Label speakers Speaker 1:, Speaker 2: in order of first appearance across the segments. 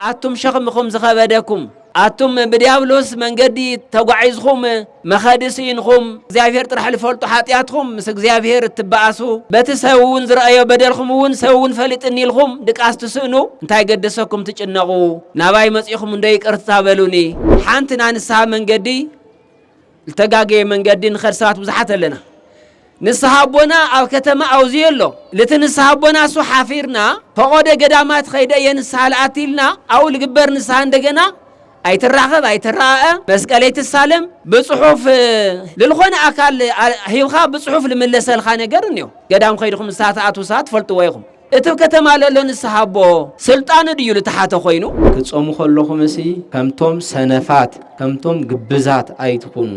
Speaker 1: ኣቱም ሸኽምኹም ዝኸበደኩም፣ ኣቱም ብዲያብሎስ መንገዲ ተጓዒዝኹም መኸዲ ስኢንኹም እግዚኣብሔር ጥራሕ ልፈልጦ ሓጢኣትኹም ምስ እግዚኣብሔር እትበኣሱ በቲ ሰብ እውን ዝረኣዮ በደልኹም እውን ሰብ እውን ፈሊጥኒ ኢልኹም ድቃስ ትስእኑ እንታይ ገደሰኩም ትጭነቑ ናባይ መፂኹም እንዶ ይቅርታ በሉኒ ሓንቲ ናይ ንስሓ መንገዲ ልተጋገየ መንገዲ ንኸድ ሰባት ብዙሓት ኣለና። ንስሃ ኣቦና ኣብ ከተማ ኣውዝዮ ኣሎ ልቲ ንስሃ ኣቦና እሱ ሓፊርና ፈቆደ ገዳማት ኸይደ እየ ንስሃ ልኣቲ ኢልና ኣው ልግበር ንስሃ እንደገና ኣይትራኸብ ኣይትረኣአ መስቀለይ ትሳለም ብፅሑፍ ልልኾነ ኣካል ሂብኻ ብፅሑፍ ልምለሰልኻ ነገር እኒኦ ገዳም ኸይድኹም ንስሃ ትኣትዉ ሰባት ትፈልጥዎ ኢኹም። እቲ ከተማ ለሎ ንስሓ ኣቦ ስልጣኑ ድዩ ልተሓተ ኮይኑ? ክትጾሙ ከለኹምሲ
Speaker 2: ከምቶም ሰነፋት ከምቶም ግብዛት ኣይትኹኑ፣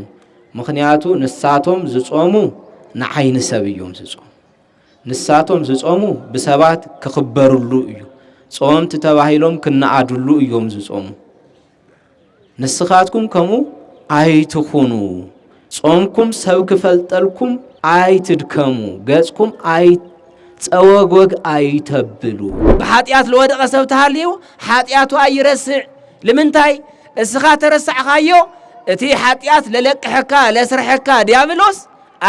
Speaker 2: ምኽንያቱ ንሳቶም ዝጾሙ ንዓይኒ ሰብ እዮም ዝጾሙ። ንሳቶም ዝጾሙ ብሰባት ክኽበርሉ እዩ፣ ጸወምቲ ተባሂሎም ክነኣድሉ እዮም ዝጾሙ። ንስኻትኩም ከምኡ ኣይትኹኑ፣ ጾምኩም ሰብ ክፈልጠልኩም ኣይትድከሙ፣ ገጽኩም ኣይ ጸወግወግ ኣይተብሉ። ብሓጢኣት ልወደቐ
Speaker 1: ሰብ ተሃልዩ ሓጢኣቱ ኣይረስዕ። ልምንታይ? እስኻ ተረሳዕኻዮ፣ እቲ ሓጢኣት ለለቅሐካ ለስርሐካ ዲያብሎስ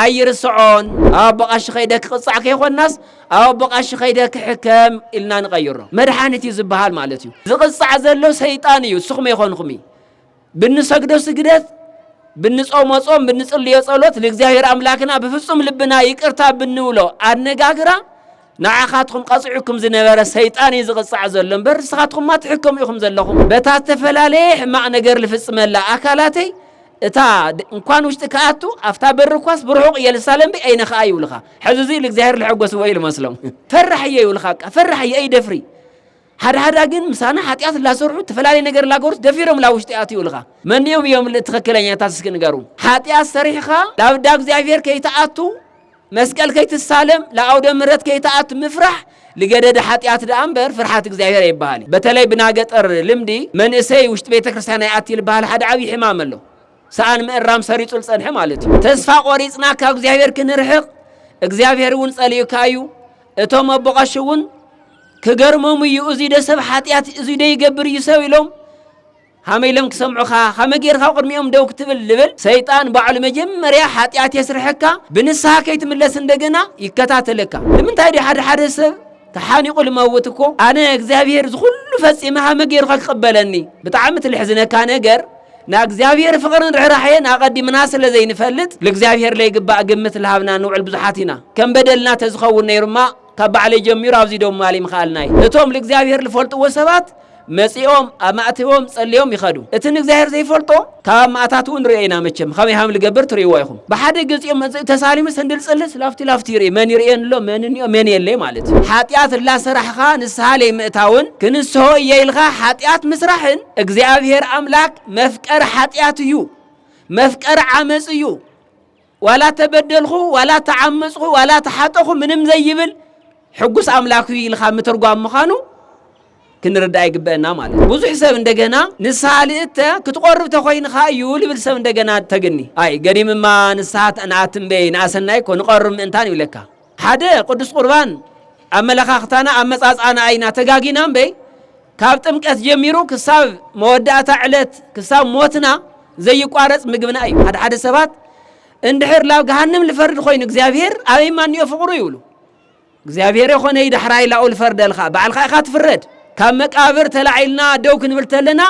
Speaker 1: ኣይርስዖን። ኣቦ ቐሺ ከይደ ክቕጻዕ ከይኮናስ ኣው ብቐሺ ከይደ ክሕከም ኢልና ንቐይሮ መድሓኒት እዩ ዝበሃል ማለት እዩ። ዝቕጻዕ ዘሎ ሰይጣን እዩ እስኹም ኣይኮንኹም እዩ። ብንሰግዶ ስግደት ብንጾሞ ጾም ብንጽልዮ ጸሎት ንእግዚኣብሔር ኣምላክና ብፍጹም ልብና ይቅርታ ብንብሎ ኣነጋግራ ንዓኻትኩም ቀጺዑኩም ዝነበረ ሰይጣን እዩ ዝቕጻዕ ዘሎ እምበር ንስኻትኩምማ ትሕከሙ ኢኹም ዘለኹም በታ ዝተፈላለየ ሕማቕ ነገር ዝፍጽመላ ኣካላተይ እታ ድንኳን ውሽጢ ክኣቱ ኣብታ በሪ እኳስ ብርሑቕ የልሳለም ብ ኣይነ ኸኣ ይብልኻ ሕዚ እዙይ ልእግዚኣብሔር ልሐጎስዎ እዩ ልመስሎም ፈራሕ እየ ይብልኻ ቃ ፈራሕ እየ ኣይደፍሪ ሓደ ሓዳ ግን ምሳና ሓጢኣት ላሰርሑ እተፈላለየ ነገር ላገሩስ ደፊሮም ላ ውሽጢ ኣትዩ ይብልኻ መኒኦም እዮም ትኽክለኛታት እስኪ ንገሩ ሓጢኣት ሰሪሕኻ ላብዳ እግዚኣብሔር ከይትኣቱ መስቀል ከይትሳለም ለኣውደ ምረት ከይትኣት ምፍራሕ ልገደደ ሓጢኣት ደኣ እምበር ፍርሓት እግዚኣብሔር ኣይበሃል እዩ። በተለይ ብናገጠር ልምዲ መንእሰይ ውሽጢ ቤተ ክርስቲያን ኣይኣቲ ልበሃል ሓደ ዓብዪ ሕማም ኣሎ። ሰኣን ምእራም ሰሪጹ ልጸንሐ ማለት እዩ። ተስፋ ቆሪጽና ካብ እግዚኣብሔር ክንርሕቕ እግዚኣብሔር እውን ጸሊኡካ እዩ። እቶም ኣቦ ቀሺ እውን ክገርሞም እዩ እዙይ ደ ሰብ ሓጢኣት እዙይ ደ ይገብር እዩ ሰብ ኢሎም ሃመይ ኢሎም ክሰምዑኻ ሃመይ ገይርካ ኣብ ቅድሚኦም ደው ክትብል ልብል ሰይጣን ባዕሉ መጀመርያ ሓጥያት የስርሐካ ብንስሃ ከይትምለስ እንደገና ይከታተለካ ንምንታይ ድዩ ሓደ ሓደ ሰብ ተሓኒቁ ልመውት እኮ ኣነ እግዚኣብሔር ዝኩሉ ፈጺመ ሃመ ገይሩካ ክቅበለኒ ብጣዕሚ ትልሕዝነካ ነገር ና እግዚኣብሔር ፍቅርን ርኅራኄን ኣቐዲምና ስለ ዘይንፈልጥ ልእግዚኣብሔር ለይግባእ ግምት ልሃብና ንውዕል ብዙሓት ኢና ከም በደልና ተዝኸውን ነይሩማ ካብ ባዕለይ ጀሚሩ ኣብዚ ደው ምባል ይምክኣልና'ዩ። እቶም ልእግዚኣብሄር ልፈልጥዎ ሰባት መጺኦም ኣብ ማእቲዎም ጸልዮም ይኸዱ። እቲ ንእግዚኣብሄር ዘይፈልጦ ካብ ኣብ ማእታትኡ ንርእዮ ኢና መቸም ኸመይ ሃም ልገብር ትርእይዎ ኢኹም። ብሓደ ገጺኡ መጺኡ ተሳሊሙ ሰንድል ጽልስ ላፍቲ ላፍቲ ይርኢ መን ይርእየኒ ኣሎ መን እኒኦ መን የለይ ማለት እዩ። ሓጢኣት እላሰራሕኻ ንስሃ ለይምእታውን ክንስሆ እየ ኢልኻ ሓጢኣት ምስራሕን እግዚኣብሄር ኣምላክ መፍቀሪ ሓጢኣት እዩ መፍቀሪ ዓመጽ እዩ። ዋላ ተበደልኹ ዋላ ተዓመጽኹ ዋላ ተሓጠኹ ምንም ዘይብል ሕጉስ ኣምላክ እዩ ኢልካ ምትርጓም ምዃኑ ክንርዳእ ይግበአና ማለት እዩ። ብዙሕ ሰብ እንደገና ንስሓ ልእተ ክትቆርብ ተኮይንካ እዩ ልብል ሰብ እንደገና ተግኒ ኣይ ገዲምማ ንስሓ ንኣትምበይ ንኣሰናይ እኮ ንቐርብ ምእንታን ይብለካ። ሓደ ቅዱስ ቁርባን ኣመለኻኽታና ኣመጻጽኣና ኢና ተጋጊና እምበይ ካብ ጥምቀት ጀሚሩ ክሳብ መወዳእታ ዕለት ክሳብ ሞትና ዘይቋረጽ ምግብና እዩ። ሓደ ሓደ ሰባት እንድሕር ላብ ገሃንም ልፈርድ ኮይኑ እግዚኣብሔር ኣበይ ማንዮ ፍቕሩ ይብሉ። እግዚኣብሔር የኾነ ይዳሕራይ ላኡ ልፈርደልካ ባዕልካ ኢኻ ትፍረድ። ካብ መቃብር ተላዒልና ደው ክንብል ተለና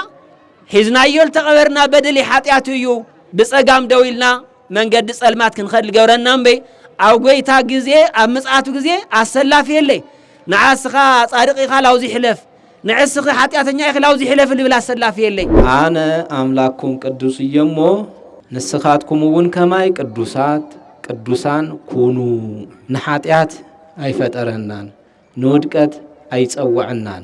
Speaker 1: ሒዝናዮ ልተቐበርና በደል ሓጢኣት እዩ ብጸጋም ደው ኢልና መንገዲ ጸልማት ክንኸድ ልገብረና እምበይ ኣብ ጎይታ ግዜ ኣብ ምጽኣቱ ግዜ ኣሰላፊ የለይ ንዓስኻ ጻድቅ ኢኻ ላውዚ ሕለፍ ንዕስኺ ሓጢኣተኛ ኢኺ ላውዚ ሕለፊ ልብል ኣሰላፊ የለይ። ኣነ
Speaker 2: ኣምላክኩም ቅዱስ እየ እሞ ንስኻትኩም እውን ከማይ ቅዱሳት ቅዱሳን ኩኑ። ንሓጢኣት ኣይፈጠረናን ንውድቀት ኣይጸወዐናን።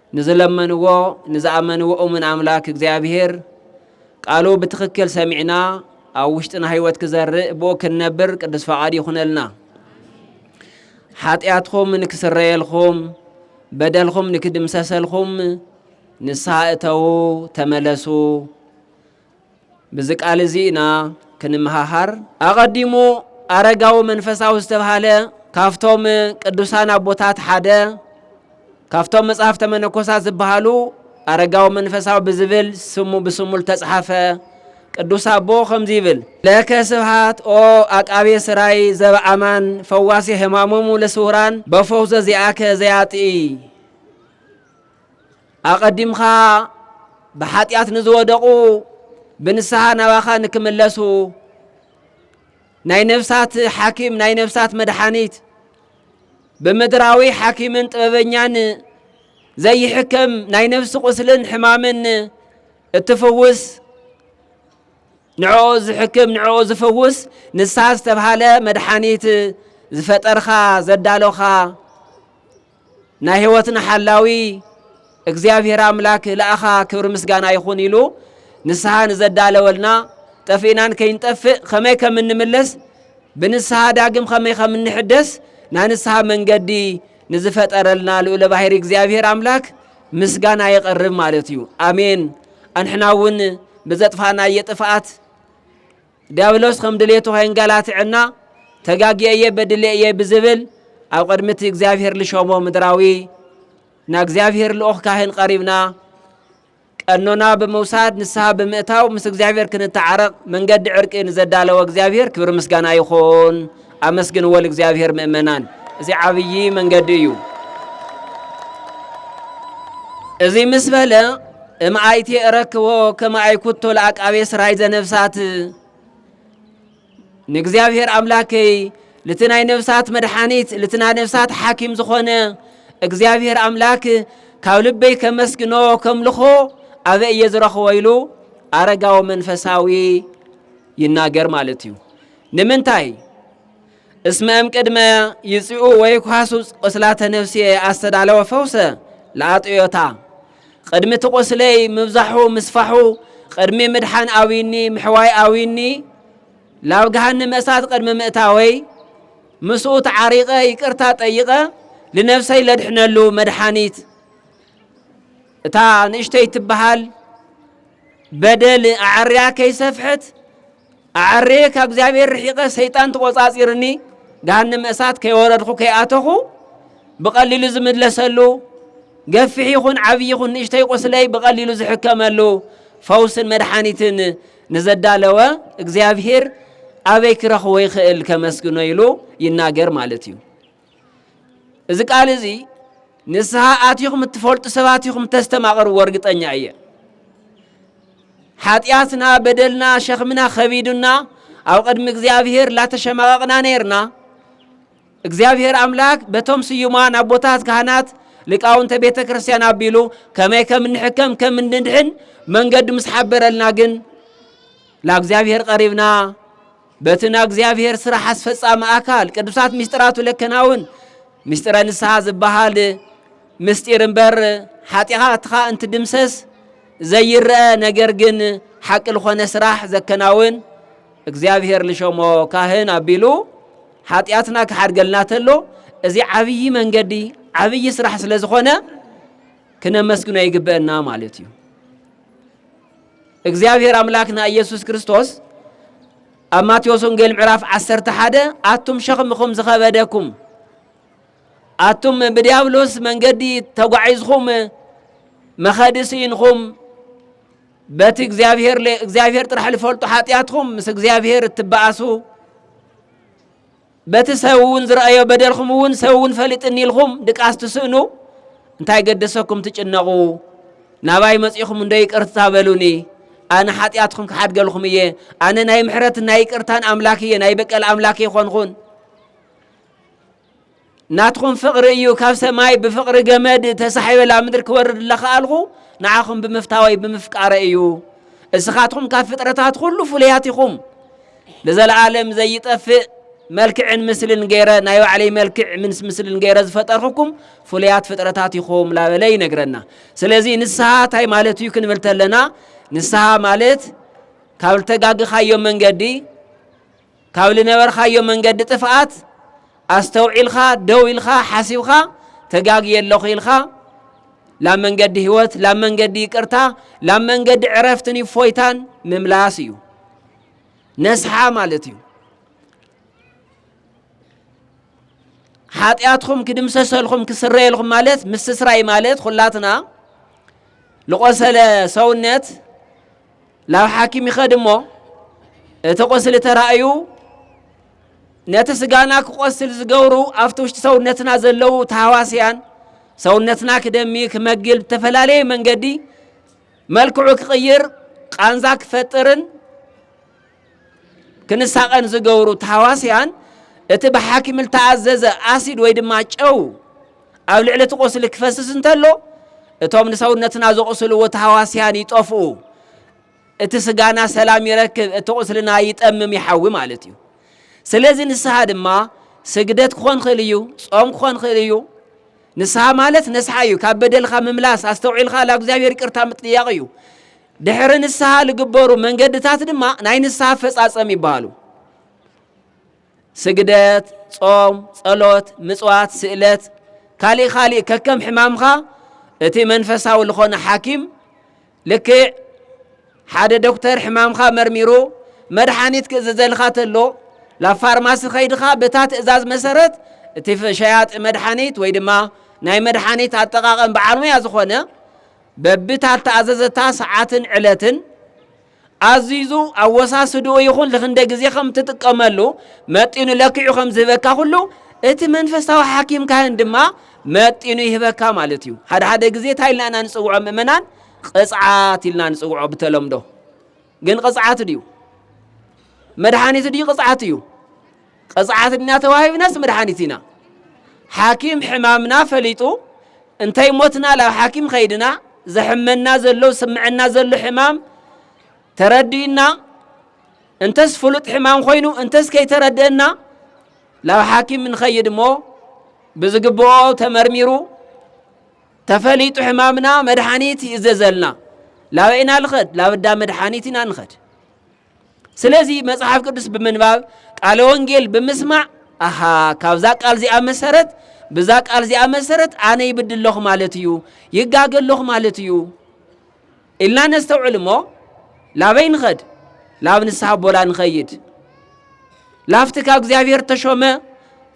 Speaker 1: ንዝለመንዎ ንዝኣመንዎ እሙን ኣምላክ እግዚኣብሔር ቃሉ ብትክክል ሰሚዕና ኣብ ውሽጥና ህይወት ክዘርእ ብኡ ክንነብር ቅዱስ ፈቃድ ይኹነልና። ሓጢኣትኹም ንክስረየልኹም በደልኹም ንክድምሰሰልኹም ንስሓ እተዉ ተመለሱ። ብዚ ቃል እዚ ኢና ክንመሃሃር። ኣቐዲሙ ኣረጋዊ መንፈሳዊ ዝተብሃለ ካብቶም ቅዱሳን ኣቦታት ሓደ ካብቶም መጽሐፍተ መነኮሳት ዝበሃሉ ኣረጋዊ መንፈሳዊ ብዝብል ስሙ ብስሙ ዝተጽሓፈ ቅዱስ ኣቦ ከምዚ ይብል ለከ ስብሃት ኦ ኣቃቤ ስራይ ዘበኣማን ፈዋሲ ሕማሞሙ ለስውራን በፈውዘ ዚኣከ ዘያጥኢ ኣቐዲምካ ብሓጢኣት ንዝወደቑ ብንስሓ ናባኻ ንክምለሱ ናይ ነፍሳት ሓኪም ናይ ነፍሳት መድሓኒት ብምድራዊ ሓኪምን ጥበበኛን ዘይሕከም ናይ ነፍሲ ቁስልን ሕማምን እትፍውስ ንዕኡ ዝሕክም ንዕኡ ዝፍውስ ንሳ ዝተብሃለ መድሓኒት ዝፈጠርኻ ዘዳሎኻ ናይ ህይወትና ሓላዊ እግዚኣብሔር ኣምላክ ለኣኻ ክብሪ ምስጋና ይኹን ኢሉ ንስሓ ንዘዳለወልና ጠፊእናን ከይንጠፍእ ከመይ ከም እንምለስ ብንስሓ ዳግም ከመይ ከም እንሕደስ ናይ ንስሓ መንገዲ ንዝፈጠረልና ልኡለ ባህሪ እግዚኣብሔር ኣምላክ ምስጋና የቐርብ ማለት እዩ። ኣሜን። ኣንሕና እውን ብዘጥፋናየ ጥፍኣት ዲያብሎስ ከም ድሌቱ ከየንገላትዐና ተጋጊየ እየ በድሌ እየ ብዝብል ኣብ ቅድሚ እቲ እግዚኣብሔር ልሾሞ ምድራዊ ናብ እግዚኣብሔር ልኡኽ ካህን ቀሪብና ቀኖና ብምውሳድ ንስሓ ብምእታው ምስ እግዚኣብሔር ክንተዓረቕ መንገዲ ዕርቂ ንዘዳለወ እግዚኣብሔር ክብሪ ምስጋና ይኹን። ኣመስግንዎ ልእግዚኣብሔር ምእመናን እዚ ዓብዪ መንገዲ እዩ። እዚ ምስ በለ እምኣይቲ እረክቦ ከመ ኣይኩቶ ለአቃቤ ስራይ ዘነፍሳት ንእግዚኣብሔር ኣምላከይ ልቲ ናይ ነፍሳት መድሓኒት ልቲ ናይ ነፍሳት ሓኪም ዝኾነ እግዚኣብሔር ኣምላክ ካብ ልበይ ከመስግኖ ከምልኾ ኣበ እየ ዝረኽቦ ኢሉ ኣረጋዊ መንፈሳዊ ይናገር ማለት እዩ። ንምንታይ? እስመ እምቅድመ ይጽኡ ወይኳሱ ቁስላተ ነፍስየ ኣስተዳለወ ፈውሰ ለኣጥዮታ ቅድሚ እቲ ቁስለይ ምብዛሑ ምስፋሑ ቅድሚ ምድሓን ኣውይኒ ምሕዋይ ኣውይኒ ላብ ገሃንመ እሳት ቅድሚ ምእታወይ ምስኡ ተዓሪቐ ይቅርታ ጠይቐ ልነፍሰይ ለድሕነሉ መድሓኒት እታ ንእሽተይ ትበሃል በደል ኣዐርያ ከይሰፍሐት ኣዐርየ ካብ እግዚኣብሔር ርሒቐ ሰይጣን ተቖጻጺርኒ ገሃነመ እሳት ከይወረድኹ ከይኣተኹ ብቐሊሉ ዝምለሰሉ ገፊሕ ይኹን ዓብዪ ይኹን ንእሽተይ ቁስለይ ብቐሊሉ ዝሕከመሉ ፈውስን መድሓኒትን ንዘዳለወ እግዚኣብሔር ኣበይ ክረኽቦ ይኽእል ከመስግኖ ኢሉ ይናገር ማለት እዩ። እዚ ቃል እዚ ንስሓ ኣቲኹም እትፈልጡ ሰባት ኢኹም ተስተማቕርዎ እርግጠኛ እየ። ሓጢኣትና፣ በደልና፣ ሸኽምና ኸቢዱና ኣብ ቅድሚ እግዚኣብሄር ላተሸማቐቕና ነይርና። እግዚኣብሄር ኣምላክ በቶም ስዩማን ኣቦታት ካህናት ሊቃውንተ ቤተ ክርስቲያን ኣቢሉ ከመይ ከም እንሕከም ከም እንድሕን መንገዱ ምስ ሓበረልና ግን ላእግዚኣብሄር ቀሪብና በቲ ናይ እግዚኣብሔር ስራሕ ኣስፈጻሚ ኣካል ቅዱሳት ምስጢራቱ ለከናውን ምስጢረ ንስሓ ዝበሃል ምስጢር እምበር ሓጢኣትኻ እንትድምሰስ ዘይረአ ነገር ግን ሓቂ ልኾነ ስራሕ ዘከናውን እግዚኣብሔር ልሸሞ ካህን ኣቢሉ ሓጢኣትና ክሓድገልና ተሎ እዚ ዓብዪ መንገዲ ዓብዪ ስራሕ ስለ ዝኾነ ክነመስግኖ ይግበአና ማለት እዩ። እግዚኣብሔር ኣምላክና ኢየሱስ ክርስቶስ ኣብ ማቴዎስ ወንጌል ምዕራፍ ዓሰርተ ሓደ ኣቱም ሸኽምኹም ዝኸበደኩም ኣቱም ብዲያብሎስ መንገዲ ተጓዒዝኹም መኸዲ ስኢንኹም በቲ እግዚኣብሔር እግዚኣብሔር ጥራሕ ዝፈልጡ ሓጢኣትኹም ምስ እግዚኣብሔር እትበኣሱ በቲ ሰብውን ዝረኣዮ በደልኹምውን ሰብውን ፈሊጥኒ ኢልኹም ድቃስ ትስእኑ እንታይ ገደሰኩም ትጭነቑ ናባይ መጺኹም እንዶ ይቅርታ በሉኒ ኣነ ሓጢኣትኩም ክሓድገልኹም እየ ኣነ ናይ ምሕረትን ናይ ይቅርታን ኣምላክ እየ ናይ በቀል ኣምላክ ይኾንኹን ናትኩም ፍቕሪ እዩ ካብ ሰማይ ብፍቕሪ ገመድ ተሳሒበላ ምድሪ ክወርድ ለኸኣልኹ ንዓኹም ብምፍታወይ ብምፍቃረ እዩ እስኻትኩም ካብ ፍጥረታት ኩሉ ፍሉያት ኢኹም ንዘለኣለም ዘይጠፍእ መልክዕን ምስልን ገይረ ናይ ባዕለይ መልክዕ ምስ ምስልን ገይረ ዝፈጠርኩኩም ፍሉያት ፍጥረታት ኢኹም ላበለ ይነግረና። ስለዚ ንስሓ እንታይ ማለት እዩ ክንብል ተለና ንስሓ ማለት ካብ ልተጋግኻዮ መንገዲ ካብ ልነበርካዮ መንገዲ ጥፍኣት ኣስተውዒልካ ደው ኢልካ ሓሲብካ ተጋግየ ኣለኹ ኢልካ ላብ መንገዲ ህይወት ላብ መንገዲ ይቅርታ ላብ መንገዲ ዕረፍትን ይፎይታን ምምላስ እዩ ነስሓ ማለት እዩ። ሓጢኣትኹም ክድምሰሰልኹም ክስረየልኹም ማለት ምስስራይ ማለት ኩላትና ልቆሰለ ሰውነት ላብ ሓኪም ይኸድ እሞ እቲ ቁስሊ ተራእዩ ነቲ ስጋና ክቆስል ዝገብሩ ኣብቲ ውሽጢ ሰውነትና ዘለዉ ተሃዋስያን ሰውነትና ክደሚ ክመግል ብተፈላለየ መንገዲ መልክዑ ክቕይር፣ ቃንዛ ክፈጥርን ክንሳቐን ዝገብሩ ተሃዋስያን እቲ ብሓኪም እተኣዘዘ ኣሲድ ወይ ድማ ጨው ኣብ ልዕሊ እቲ ቁስሊ ክፈስስ እንተሎ እቶም ንሰውነትና ዘቑስልዎ ተሃዋስያን ይጠፍኡ፣ እቲ ስጋና ሰላም ይረክብ፣ እቲ ቁስልና ይጠምም ይሓዊ ማለት እዩ። ስለዚ ንስሓ ድማ ስግደት ክኾን ክእል እዩ፣ ጾም ክኾን ክእል እዩ፣ ንስሃ ማለት ነስሓ እዩ ካብ በደልካ ምምላስ ኣስተውዒልካ ላብ እግዚኣብሔር ይቅርታ ምጥያቅ እዩ ድሕሪ ንስሃ ልግበሩ መንገድታት ድማ ናይ ንስሃ ኣፈጻጸም ይበሃሉ ስግደት ጾም ጸሎት ምጽዋት ስእለት ካሊእ ካሊእ ከከም ሕማምካ እቲ መንፈሳዊ ልኾነ ሓኪም ልክዕ ሓደ ዶክተር ሕማምካ መርሚሩ መድሓኒት ክእዘዘልካ ተሎ ላብ ፋርማሲ ከይድኻ በታ ትእዛዝ መሰረት እቲ ሸያጢ መድሓኒት ወይ ድማ ናይ መድሓኒት ኣጠቃቀም በዓል ሙያ ዝኾነ በብታ ተኣዘዘታ ሰዓትን ዕለትን ኣዚዙ ኣወሳስድኡ ይኹን ልኽንደ ግዜ ከም እትጥቀመሉ መጢኑ ለኪዑ ከም ዝህበካ ኩሉ እቲ መንፈሳዊ ሓኪም ካህን ድማ መጢኑ ይህበካ ማለት እዩ። ሓደ ሓደ ግዜ እንታይ ኢልና ኢና ንጽውዖ ምእመናን? ቅጽዓት ኢልና ንጽውዖ ብተለምዶ። ግን ቅጽዓት ድዩ? መድሓኒት ድዩ ቅጽዓት እዩ? ቕፅዓት እኛ ተዋሂብናስ መድሓኒት ኢና ሓኪም ሕማምና ፈሊጡ እንተይሞትና ላብ ሓኪም ኸይድና ዘሕመና ዘሎ ዝስምዐና ዘሎ ሕማም ተረዲእና እንተስ ፍሉጥ ሕማም ኾይኑ እንተስ ከይተረደእና ላብ ሓኪም ንኸይድ እሞ ብዝግብኦ ተመርሚሩ ተፈሊጡ ሕማምና መድሓኒት ይእዘዘልና ላበይና ልኸድ ላብዳ መድሓኒት ኢና ንኸድ ስለዚ መጽሓፍ ቅዱስ ብምንባብ ቃለ ወንጌል ብምስማዕ ኣሃ ካብዛ ቃል እዚኣ መሰረት ብዛ ቃል እዚኣ መሰረት ኣነ ይብድ ኣለኹ ማለት እዩ ይጋገ ኣለኹ ማለት እዩ ኢልና ነስተውዕል እሞ ላበይ ንኸድ ላብ ንስሓ ኣቦና ንኸይድ ላፍቲ ካብ እግዚኣብሔር ተሾመ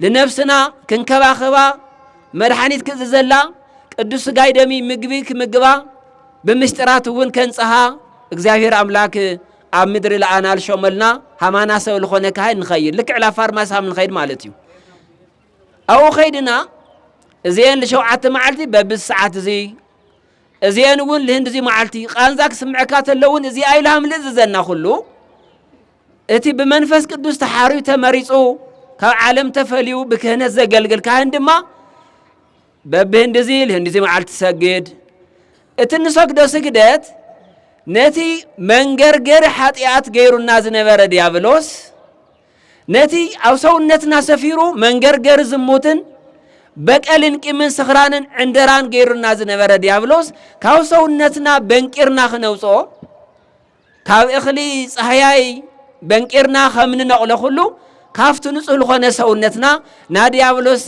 Speaker 1: ንነፍስና ክንከባኸባ መድሓኒት ክእዝዘላ ቅዱስ ስጋይ ደሚ ምግቢ ክምግባ ብምስጢራት እውን ከንጽሃ እግዚኣብሔር ኣምላክ ኣብ ምድሪ ለኣና ልሾመልና ሃማና ሰብ ልኾነ ካህን ንኸይድ ልክዕ ላ ፋርማሲ ሃም ንኸይድ ማለት እዩ ኣብኡ ከይድና እዚአን ልሸውዓተ መዓልቲ በብዚ ሰዓት እዚ እዚአን እውን ልህንድ እዚ መዓልቲ ቃንዛ ክስምዐካ ተለውን እዚ ኣይልሃም ልእዝዘና ኩሉ እቲ ብመንፈስ ቅዱስ ተሓርዩ ተመሪጹ ካብ ዓለም ተፈልዩ ብክህነት ዘገልግል ካህን ድማ በብህንዲ እዚ ልህንዲ እዚ መዓልቲ ትሰግድ እቲ እንሰግዶ ስግደት ነቲ መንገርገሪ ሓጢኣት ገይሩና ዝነበረ ዲያብሎስ ነቲ ኣብ ሰውነትና ሰፊሩ መንገርገሪ ዝሙትን በቀልን ቂምን ስኽራንን ዕንደራን ገይሩና ዝነበረ ዲያብሎስ ካብ ሰውነትና በንቂርና ክነውፅኦ ካብ እኽሊ ጻህያይ በንቂርና ከም ንነቕሎ ኩሉ ካብቲ ንጹህ ልኾነ ሰውነትና ናድያብሎስ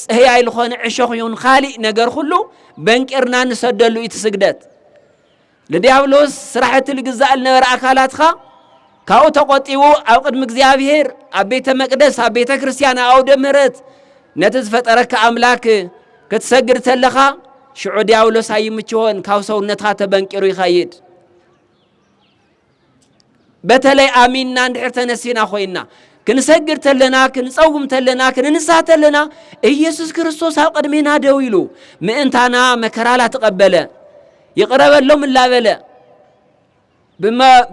Speaker 1: ጽህያይ ልኾነ ዕሾኽ ይኹን ኻሊእ ነገር ኩሉ በንቂርና ንሰደሉ እዩ ትስግደት ልድያብሎስ ስራሕቲ ልግዛእ ልነበረ ኣካላትካ ካብኡ ተቆጢቡ ኣብ ቅድሚ እግዚኣብሔር ኣብ ቤተ መቅደስ ኣብ ቤተ ክርስቲያን ኣውደ ምህረት ነቲ ዝፈጠረካ ኣምላክ ክትሰግድ ተለኻ ሽዑ ዲያብሎስ ኣይምችሆን ካብ ሰውነትካ ተበንቂሩ ይኸይድ በተለይ ኣሚንና እንድሕር ተነሲና ኮይና ክንሰግድ ተለና ክንጸውም ተለና ክንንስሃ ተለና ኢየሱስ ክርስቶስ ኣብ ቅድሜና ደው ኢሉ ምእንታና መከራ ላተቐበለ ይቕረበሎም እላበለ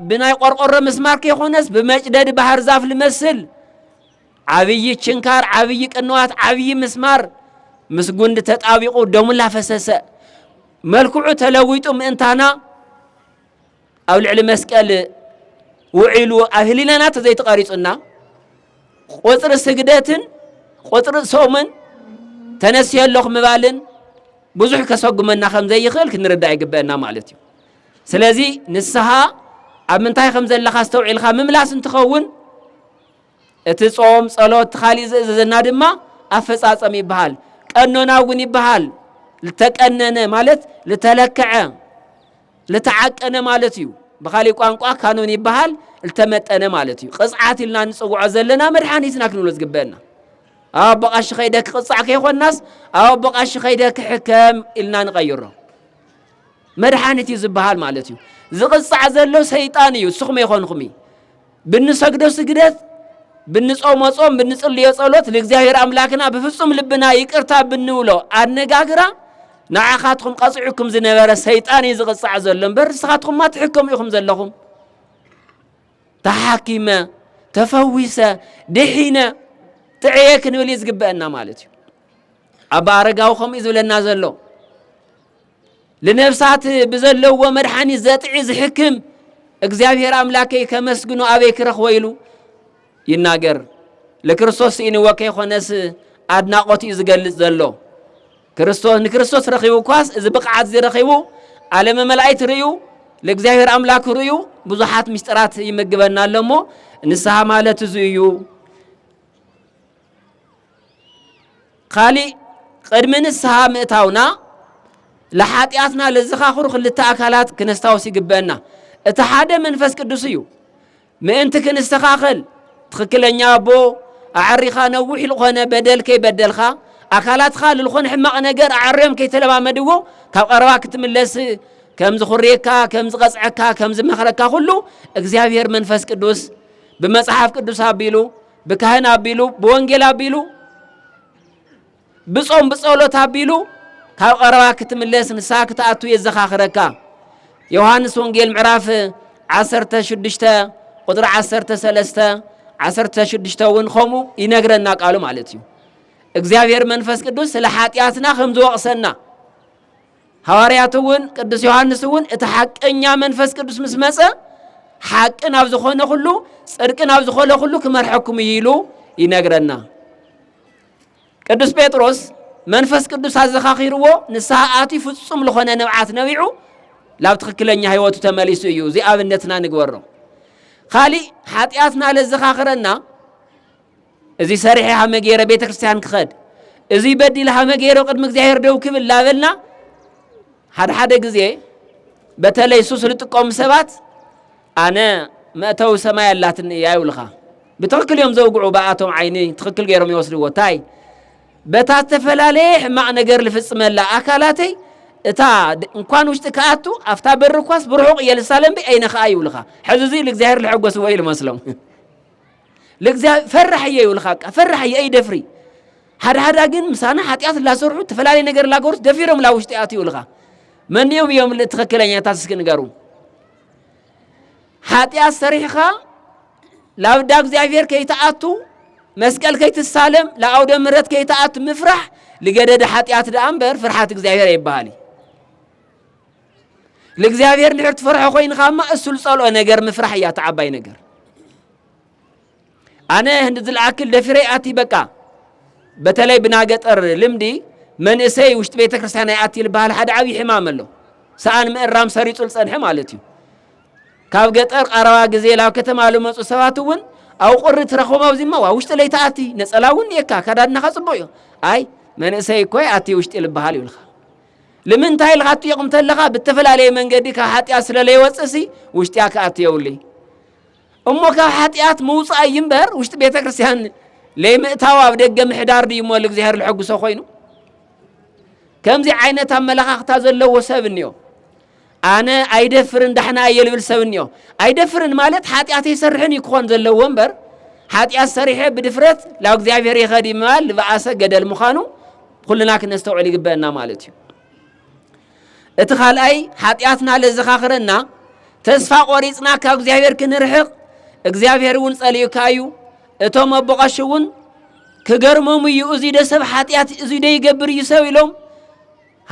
Speaker 1: ብናይ ቆርቆሮ ምስማር ከይኮነስ ብመጭደድ ባህር ዛፍ ልመስል ዓብዪ ችንካር፣ ዓብዪ ቅንዋት፣ ዓብዪ ምስማር ምስ ጉንዲ ተጣቢቑ ደሙ ላፈሰሰ መልክዑ ተለዊጡ ምእንታና ኣብ ልዕሊ መስቀል ውዒሉ ኣብ ህሊናና ተዘይተቐሪጹና ቁፅሪ ስግደትን ቁፅሪ ሶምን ተነስዮ ኣለኹ ምባልን ብዙሕ ከሰጉመና ከም ዘይኽእል ክንርዳእ ይግበአና ማለት እዩ ስለዚ ንስሓ ኣብ ምንታይ ከም ዘለኻ ኣስተውዒልካ ምምላስ እንትኸውን እቲ ጾም ጸሎት እቲ ካሊእ ዝእዘዘና ድማ ኣፈጻጸም ይበሃል። ቀኖና እውን ይበሃል። ዝተቀነነ ማለት ዝተለከዐ ዝተዓቀነ ማለት እዩ። ብካሊእ ቋንቋ ካኖን ይበሃል ዝተመጠነ ማለት እዩ። ቅፅዓት ኢልና ንፅውዖ ዘለና መድሓኒትና ክንብሎ ዝግበአና ኣብ ኣቦቃሺ ከይደ ክቕፃዕ ከይኮናስ ኣብ ኣቦቃሺ ከይደ ክሕከም ኢልና ንቐይሮ መድሓኒት እዩ ዝበሃል ማለት እዩ። ዝቕፃዕ ዘሎ ሰይጣን እዩ። ንስኹም ኣይኮንኹም እዩ። ብንሰግዶ ስግደት፣ ብንጾሞ ጾም፣ ብንጽልዮ ጸሎት፣ ንእግዚኣብሔር ኣምላክና ብፍጹም ልብና ይቅርታ ብንብሎ ኣነጋግራ ንዓኻትኹም ቀጺዑኩም ዝነበረ ሰይጣን እዩ ዝቕጻዕ ዘሎ እምበር ንስኻትኹማ ትሕከሙ ኢኹም ዘለኹም። ተሓኪመ ተፈዊሰ ድሒነ ጥዕየ ክንብል እዩ ዝግበአና ማለት እዩ። ኣባ ኣረጋዊ ከምኡ እዩ ዝብለና ዘሎ። ልነፍሳት ብዘለዎ መድሓኒት ዘጥዒ ዝሕክም እግዚኣብሔር ኣምላከይ ከመስግኖ ኣበይ ክረኽቦ ኢሉ ይናገር ልክርስቶስ ስኢንዎ ከይኮነስ ኣድናቆት እዩ ዝገልጽ ዘሎ ክርስቶስ ንክርስቶስ ረኺቡ እኳስ እዚ ብቕዓት እዚ ረኺቡ ዓለመ መላእክት ርእዩ ለእግዚኣብሔር ኣምላክ ርእዩ ብዙሓት ምስጢራት ይመግበና ኣሎ እሞ ንስሓ ማለት እዚ እዩ ኻሊእ ቕድሚ ንስሃ ምእታውና ልሓጢኣትና ልዝኻኽሩ ክልተ ኣካላት ክነስታውስ ይግበእና እቲ ሓደ መንፈስ ቅዱስ እዩ ምእንቲ ክንስተኻኸል ትኽክለኛ ኣቦ ኣዐሪኻ ነዊሕ ልኾነ በደል ከይበደልኻ ኣካላትኻ ልልኾነ ሕማቕ ነገር ኣዐርዮም ከይተለማመድዎ ካብ ቐረባ ክትምለስ ከም ዝኹርየካ ከም ዝቐጽዐካ ከም ዝመኽረካ ኩሉ እግዚኣብሔር መንፈስ ቅዱስ ብመጽሓፍ ቅዱስ ኣቢሉ ብካህን ኣቢሉ ብወንጌል ኣቢሉ ብጾም ብጸሎት ኣቢሉ ካብ ቐረባ ክትምለስ ንስሓ ክትኣቱ የዘኻኽረካ ዮሃንስ ወንጌል ምዕራፍ 16 ቁጥሪ 13 16 እውን ከምኡ ይነግረና ቃሉ ማለት እዩ እግዚኣብሔር መንፈስ ቅዱስ ስለ ሓጢኣትና ከም ዝወቕሰና ሃዋርያት እውን ቅዱስ ዮሐንስ እውን እቲ ሓቀኛ መንፈስ ቅዱስ ምስ መጸ ሓቂ ናብ ዝኾነ ኩሉ ጽድቂ ናብ ዝኾነ ኩሉ ክመርሐኩም እዩ ኢሉ ይነግረና። ቅዱስ ጴጥሮስ መንፈስ ቅዱስ ኣዘኻኺርዎ ንስሓ ኣትዩ ፍጹም ዝኾነ ንብዓት ነቢዑ ላብ ትኽክለኛ ህይወቱ ተመሊሱ እዩ። እዚ ኣብነትና ንግበሮ። ካሊእ ሓጢኣትና ለዘኻኽረና እዚ ሰሪሐ ሃመ ገይረ ቤተ ክርስቲያን ክኸድ እዚ በዲል ሃመ ገይረ ቅድሚ እግዚኣብሔር ደው ክብል ላበልና ሓደ ሓደ ግዜ በተለይ ሱስ ዝጥቀሙ ሰባት ኣነ መእተዊ ሰማይ ኣላትኒ እያ ይብልኻ ብትኽክል እዮም ዘውግዑ ብኣቶም ዓይኒ ትኽክል ገይሮም ይወስድዎ እንታይ በታ ዝተፈላለየ ሕማቕ ነገር ዝፍፅመላ ኣካላተይ እታ እንኳን ውሽጢ ክኣቱ ኣብታ በሪ እኳስ ብርሑቕ እየ ልሳለምቢ ኣይነኸኣ ይብልኻ ሕዚ እዚ እግዚኣብሔር ዝሐጎስዎ እዩ ዝመስሎም ለእግዚኣብሔር ፈራሕ እየ ይብልካ በቃ ፈራሕ እየ ይደፍሪ ሓደ ሓደ ግን ምሳና ሓጢኣት ላሰርሑ እተፈላለየ ነገር ላገሩስ ደፊሮም ላ ውሽጢ ኣት ይብልካ መኒኦም እዮም ትክክለኛታት እስኪ ንገሩ ሓጢኣት ሰሪሕኻ ላብዳ እግዚኣብሔር ከይትኣቱ መስቀል ከይትሳለም ለኣውደ ምረት ከይትኣቱ ምፍራሕ ልገደደ ሓጢኣት ደኣ እምበር ፍርሓት እግዚኣብሔር ኣይበሃል እዩ ንእግዚኣብሔር እንድሕር ትፈርሖ ኮይንኻ እማ እሱ ዝጸልኦ ነገር ምፍራሕ እያ እቲ ዓባይ ነገር ኣነ ህንዲ ዝለኣክል ደፊረ ኣቲ በቃ በተለይ ብናገጠር ልምዲ መንእሰይ ውሽጢ ቤተ ክርስቲያን ኣይኣቲ ዝበሃል ሓደ ዓብዪ ሕማም ኣሎ ሰኣን ምእራም ሰሪጹ ዝጸንሐ ማለት እዩ ካብ ገጠር ቀረባ ግዜ ናብ ከተማ ዝመፁ ሰባት እውን ኣብ ቁሪ ትረኽቦም ኣብዚ እሞ ዋ ውሽጢ ለይተኣቲ ነፀላ እውን እየካ ከዳድናኻ ፅቡቅ እዩ ኣይ መንእሰይ እኮ ኣቲ ውሽጢ ልበሃል ይብልካ ልምንታይ ኢልካ ትጥይቕ እንተለኻ ብተፈላለየ መንገዲ ካብ ሓጢኣት ስለ ለይወፅእሲ ውሽጢያ ክኣት የብሉይ እሞ ካብ ሓጢኣት ምውፃእ እዩ እምበር ውሽጢ ቤተ ክርስቲያን ለይምእታው ኣብ ደገ ምሕዳር ድዩ እሞ እግዚኣብሔር ልሐጉሶ ኮይኑ ከምዚ ዓይነት ኣመለኻኽታ ዘለዎ ሰብ እኒኦ ኣነ ኣይደፍርን ዳሕና እየ ልብል ሰብ እኒኦ። ኣይደፍርን ማለት ሓጢኣት ኣይሰርሕን እዩ ክኾን ዘለዎ እምበር ሓጢኣት ሰሪሐ ብድፍረት ላብ እግዚኣብሔር ይኸድ ምባል ዝበኣሰ ገደል ምዃኑ ኩልና ክነስተውዕል ይግበአና ማለት እዩ። እቲ ካልኣይ ሓጢኣትና ለዘኻኽረና ተስፋ ቆሪፅና ካብ እግዚኣብሔር ክንርሕቕ እግዚኣብሔር እውን ጸልዩካ እዩ እቶም ኣቦቐሽ እውን ክገርሞም እዩ እዙይ ደ ሰብ ሓጢኣት እዙይ ደ ይገብር እዩ ሰብ ኢሎም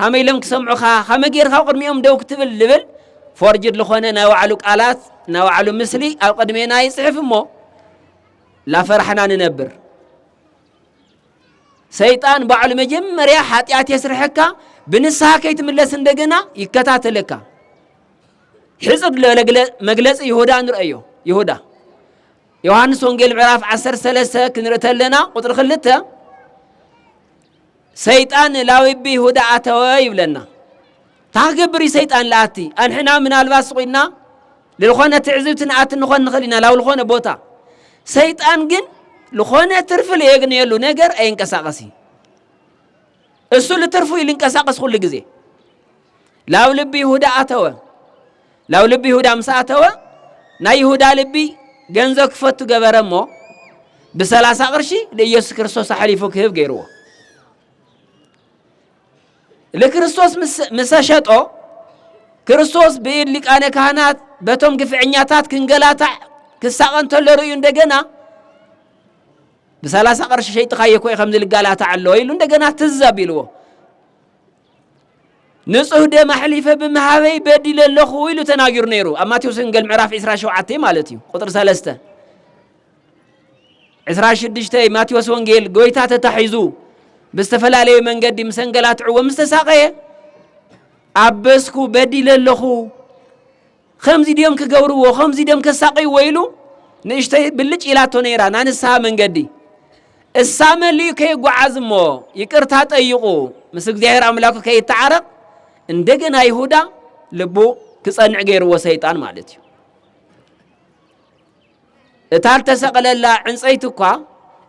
Speaker 1: ሃመይ ኢሎም ክሰምዑኻ ሃመይ ጌርካ ኣብ ቅድሚኦም ደው ክትብል ልብል ፎርጅድ ልኾነ ናይ ባዕሉ ቃላት ናይ ባዕሉ ምስሊ ኣብ ቅድሜና ይጽሕፍ እሞ ላፈራሕና ንነብር ሰይጣን ባዕሉ መጀመርያ ሓጢኣት የስርሐካ ብንስሃ ከይትምለስ እንደገና ይከታተለካ ሕፅር መግለፂ ይሁዳ ንርእዮ ይሁዳ ዮሃንስ ወንጌል ምዕራፍ 13 ክንርኢ ተለና ቁጥሪ ክልተ ሰይጣን ላዊቢ ሁዳ ኣተወ ይብለና ታክገብሪ ሰይጣን ለኣቲ ኣንሕና ምናልባት ስቑድና ልኾነ ትዕዝብቲ ንኣቲ ንኾን ንኽእል ኢና ላብ ልኾነ ቦታ ሰይጣን ግን ልኾነ ትርፊ ለየግንየሉ ነገር ኣየንቀሳቀሲ እሱ ልትርፉ እዩ ልንቀሳቀስ ኩሉ ግዜ ላብ ልቢ ይሁዳ ኣተወ። ላብ ልቢ ይሁዳ ምስ ኣተወ ናይ ይሁዳ ልቢ ገንዘብ ክፈቱ ገበረ እሞ ብሰላሳ ቅርሺ ንኢየሱስ ክርስቶስ ኣሕሊፉ ክህብ ገይርዎ። ንክርስቶስ ምስ ሸጦ ክርስቶስ ብኢድ ሊቃነ ካህናት በቶም ግፍዕኛታት ክንገላታዕ ክሳቐ እንተሎ ርእዩ እንደገና ብሰላሳ ቅርሺ ሸይጥኻዮ ኮይ ከምዚ ልጋላታዕ ኣሎ ኢሉ እንደገና ትዘብ ኢልዎ ንጹህ ደም ኣሕሊፈ ብምሃበይ በዲለ ኣለኹ ኢሉ ተናጊሩ ነይሩ ኣብ ማቴዎስ ወንጌል ምዕራፍ 27 ማለት እዩ ቁጥሪ 3 26 ማቴዎስ ወንጌል ጎይታ ተታሒዙ ብዝተፈላለየ መንገዲ ምስ ኣንገላትዕዎ ምስ ተሳቐየ ኣበስኩ በዲለ ኣለኹ ኸምዚ ድዮም ክገብርዎ፣ ኸምዚ ድዮም ከሳቕይዎ ኢሉ ንእሽተይ ብልጭ ኢላቶ ነይራ ናይ ንስሓ መንገዲ። እሳ መሊኡ ከይጓዓዝ እሞ ይቅርታ ጠይቑ ምስ እግዚኣብሔር ኣምላኩ ከይተዓረቕ እንደገና ይሁዳ ልቡ ክጸንዕ ገይርዎ ሰይጣን ማለት እዩ። እታ እተሰቕለላ ዕንጸይቲ እኳ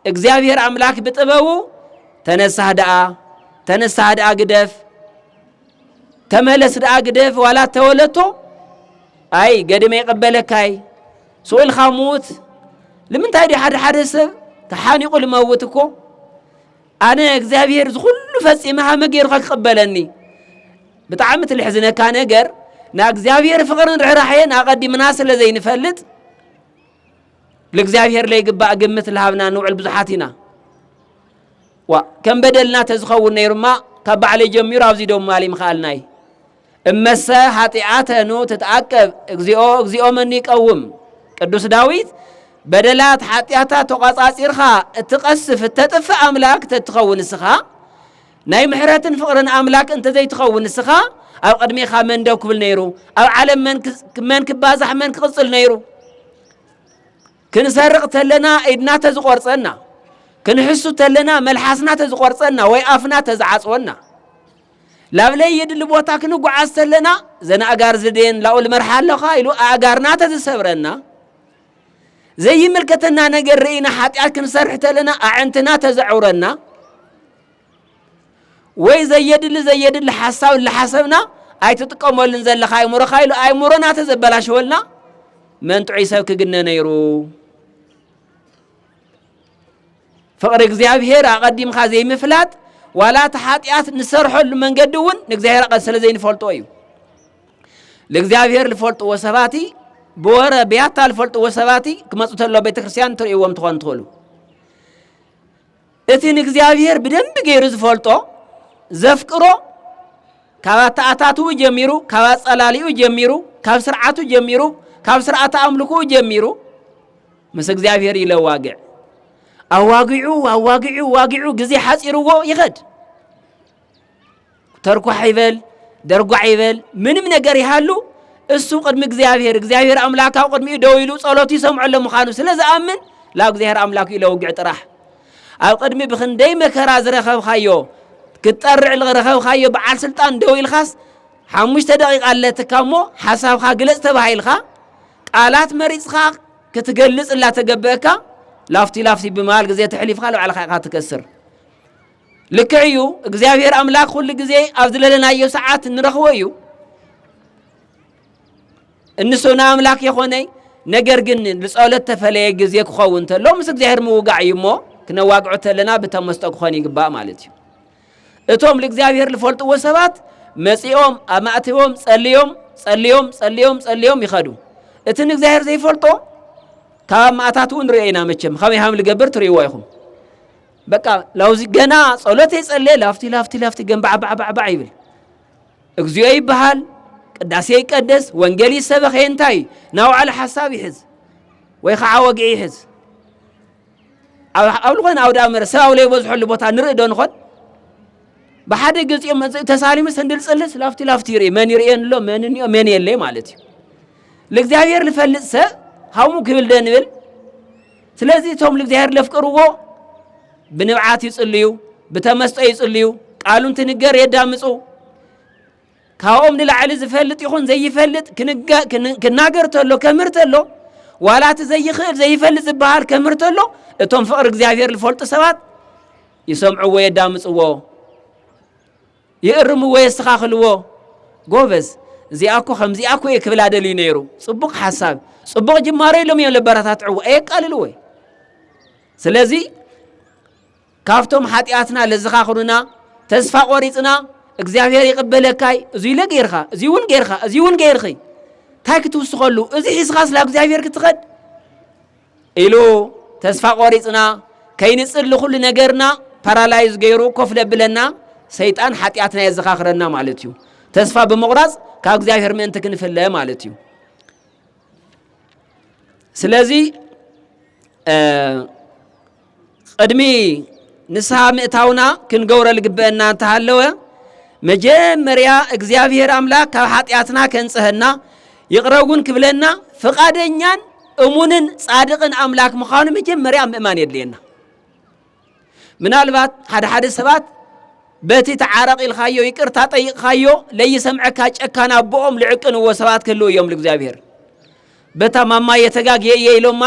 Speaker 1: እግዚኣብሔር ኣምላክ ብጥበቡ ተነሳህ ደኣ ተነሳህ ደኣ ግደፍ ተመለስ ደኣ ግደፍ ዋላ ተወለቶ ኣይ ገድመ ይቐበለካይ ስኡልካ ምዉት ንምንታይ ዲ ሓደ ሓደ ሰብ ተሓኒቑ ልመውት እኮ ኣነ እግዚኣብሄር እዚ ኩሉ ፈጺመ ሃመ ገይሩካ ክቅበለኒ ብጣዕሚ ትልሕዝነካ ነገር ና እግዚኣብሄር ፍቅርን ርሕራሕየን ኣቀዲምና ስለ ዘይንፈልጥ ልእግዚኣብሄር ለይግባእ ግምት ልሃብና ንውዕል ብዙሓት ኢና ዋ ከም በደልና ተዝኸውን ነይሩማ ካብ ባዕለይ ጀሚሩ ኣብዚ ዶም ማሊ ምኸኣልናይ እመሰ ኃጢኣተ ኑ ትትዓቀብ እግዚኦ እግዚኦ መን ይቀውም ቅዱስ ዳዊት በደላት ሓጢኣታት ተቋጻጺርካ እትቐስፍ እተጥፍእ ኣምላክ ተትኸውን እስኻ ናይ ምሕረትን ፍቕርን ኣምላክ እንተዘይትኸውን እስኻ ኣብ ቅድሜኻ መን ደው ክብል ነይሩ ኣብ ዓለም መን ክባዛሕ መን ክቕጽል ነይሩ ክንሰርቕ ተለና ኢድና ተዝቖርጸና ክንሕሱ ተለና መልሓስና ተዝቖርጸና ወይ ኣፍና ተዝዓጽወና ላብ ለይድሊ ቦታ ክንጓዓዝ ተለና ዘን ኣእጋር ዝደየን ላኡ ልመርሓ ኣለኻ ኢሉ ኣእጋርና ተዝሰብረና ዘይምልከተና ነገር ርእና ሓጢኣት ክንሰርሕ ተለና ኣዕንትና ተዘዕውረና ወይ ዘየድሊ ዘየድሊ ሓሳብ ልሓሰብና ኣይትጥቀመሉን ዘለኻ ኣይሙሮኻ ኢሉ ኣይሙሮና ተዘበላሸወልና መን ጥዑይ ሰብ ክግነ ነይሩ ፍቕሪ እግዚኣብሄር ኣቐዲምካ ዘይምፍላጥ ዋላ እቲ ሓጢኣት ንሰርሐሉ መንገዲ እውን ንእግዚኣብሄር ኣቐ ስለ ዘይንፈልጦ እዩ ንእግዚኣብሄር ዝፈልጥዎ ሰባት ብወረ ብያታ ዝፈልጥዎ ሰባት ክመፁ ተሎ ቤተ ክርስቲያን ትርእይዎም ትኾኑ ትኽእሉ እቲ ንእግዚኣብሄር ብደንቢ ገይሩ ዝፈልጦ ዘፍቅሮ ካብ ኣተኣታትኡ ጀሚሩ ካብ ኣጸላሊኡ ጀሚሩ ካብ ስርዓቱ ጀሚሩ ካብ ስርዓተ ኣምልኩኡ ጀሚሩ ምስ እግዚኣብሔር ይለዋግዕ ኣዋጊዑ ኣዋጊዑ ዋጊዑ ግዜ ሓፂርዎ ይኸድ ተርኳሕ ይበል ደርጓዕ ይበል ምንም ነገር ይሃሉ እሱ ቅድሚ እግዚኣብሔር እግዚኣብሔር ኣምላክ ኣብ ቅድሚኡ ደው ኢሉ ጸሎቱ ይሰምዐሎ ምዃኑ ስለ ዝኣምን ላብ እግዚኣብሔር ኣምላክ ኢለውግዕ ጥራሕ ኣብ ቅድሚ ብክንደይ መከራ ዝረኸብካዮ ክትጠርዕ ዝረኸብካዮ በዓል ስልጣን ደው ኢልካስ ሓሙሽተ ደቂቃ ኣለትካ እሞ ሓሳብካ ግለጽ ተባሂልካ ቃላት መሪጽካ ክትገልጽ እላተገበእካ ላፍቲ ላፍቲ ብምባል ግዜ ተሕሊፍካ ንባዕልካ ኢኻ ትከስር። ልክዕ እዩ እግዚኣብሔር ኣምላክ ኩሉ ግዜ ኣብ ዝለለናዮ ሰዓት ንረኽቦ እዩ እንሶና ኣምላክ የኾነይ ነገር ግን ንጸሎት ተፈለየ ግዜ ክኸውን ተሎ ምስ እግዚኣብሔር ምውጋዕ እዩ እሞ ክነዋግዖ ተለና ብተመስጦ ክኾን ይግባእ ማለት እዩ እቶም ልእግዚኣብሔር ልፈልጥዎ ሰባት መጺኦም ኣብ ማእቲቦም ጸልዮም ጸልዮም ጸልዮም ጸልዮም ይኸዱ እቲ ንእግዚኣብሔር ዘይፈልጦ ካብ ኣብ ማእታትኡ ንሪኦ ኢና መቸም ከመይ ሃም ልገብር ትርእይዎ ኢኹም በቃ ላውዚ ገና ጸሎት የጸልየ ላፍቲ ላፍቲ ላፍቲ ገንባዕባዕባዕባዕ ይብል እግዚኦ ይበሃል ቅዳሴ ይቀደስ ወንጌል ይሰበኸ እንታይ እዩ ናውዓለ ሓሳብ ይሕዝ ወይ ከዓ ወግዒ ይሕዝ ኣብ ዝኾነ ኣውደ ኣመረ ሰብ ኣብ ዘይበዝሐሉ ቦታ ንርኢ ዶ ንኾን? ብሓደ ገፂኦም መፅእ ተሳሊሙ ስንድል ፅልስ ላፍቲ ላፍቲ ይርኢ መን ይርእየን ኣሎ መን እኒኦ መን የለ ማለት እዩ ልእግዚኣብሔር ልፈልጥ ሰብ ሃሙ ክብል ደ ንብል ስለዚ እቶም ልእግዚኣብሔር ለፍቅርዎ ብንብዓት ይፅልዩ ብተመስጦ ይፅልዩ ቃሉ እንትንገር የዳምፁ ካብኦም ንላዕሊ ዝፈልጥ ይኹን ዘይፈልጥ ክናገር ተሎ ከምህር ተሎ ዋላ እቲ ዘይኽእል ዘይፈልጥ ዝበሃል ከምህር ተሎ እቶም ፍቕሪ እግዚኣብሔር ዝፈልጡ ሰባት ይሰምዕዎ የዳምፅዎ ይእርምዎ የስተኻኽልዎ ጎበዝ እዚኣ እኮ ከምዚኣ እኮ እየ ክብላ ደልዩ ነይሩ ፅቡቕ ሓሳብ ፅቡቕ ጅማሮ ኢሎም እዮም ለበረታትዕዎ ኣየቃልልዎ እዩ ስለዚ ካብቶም ሓጢኣትና ለዝኻኽሩና ተስፋ ቆሪጽና እግዚኣብሔር ይቅበለካይ እዙይ ኢለ ገይርካ እዙይ እውን ገይርካ እዙይ እውን ገይርኺ እንታይ ክትውስኸሉ እዚ ሒዝኻስ ናብ እግዚኣብሔር ክትኸድ ኢሉ ተስፋ ቆሪጽና ከይንጽል ንኹሉ ነገርና ፓራላይዝ ገይሩ ኮፍ ለብለና ሰይጣን ሓጢኣትና የዘኻኽረና ማለት እዩ ተስፋ ብምቑራፅ ካብ እግዚኣብሔር ምእንቲ ክንፍለ ማለት እዩ ስለዚ ቕድሚ ንስሓ ምእታውና ክንገብሮ ልግበአና እንተሃለወ መጀመርያ እግዚኣብሔር ኣምላክ ካብ ሓጢኣትና ከንጽሀና ይቕረውን ክብለና ፍቓደኛን እሙንን ጻድቕን ኣምላክ ምዃኑ መጀመርያ ምእማን የድልየና። ምናልባት ሓደ ሓደ ሰባት በቲ ተዓረቕ ኢልካዮ ይቅርታ ጠይቕካዮ ለይሰምዐካ ጨካን ኣቦኦም ልዕቅንዎ ሰባት ክህልው እዮም ልእግዚኣብሔር በታ ማማ የተጋግየየ ኢሎማ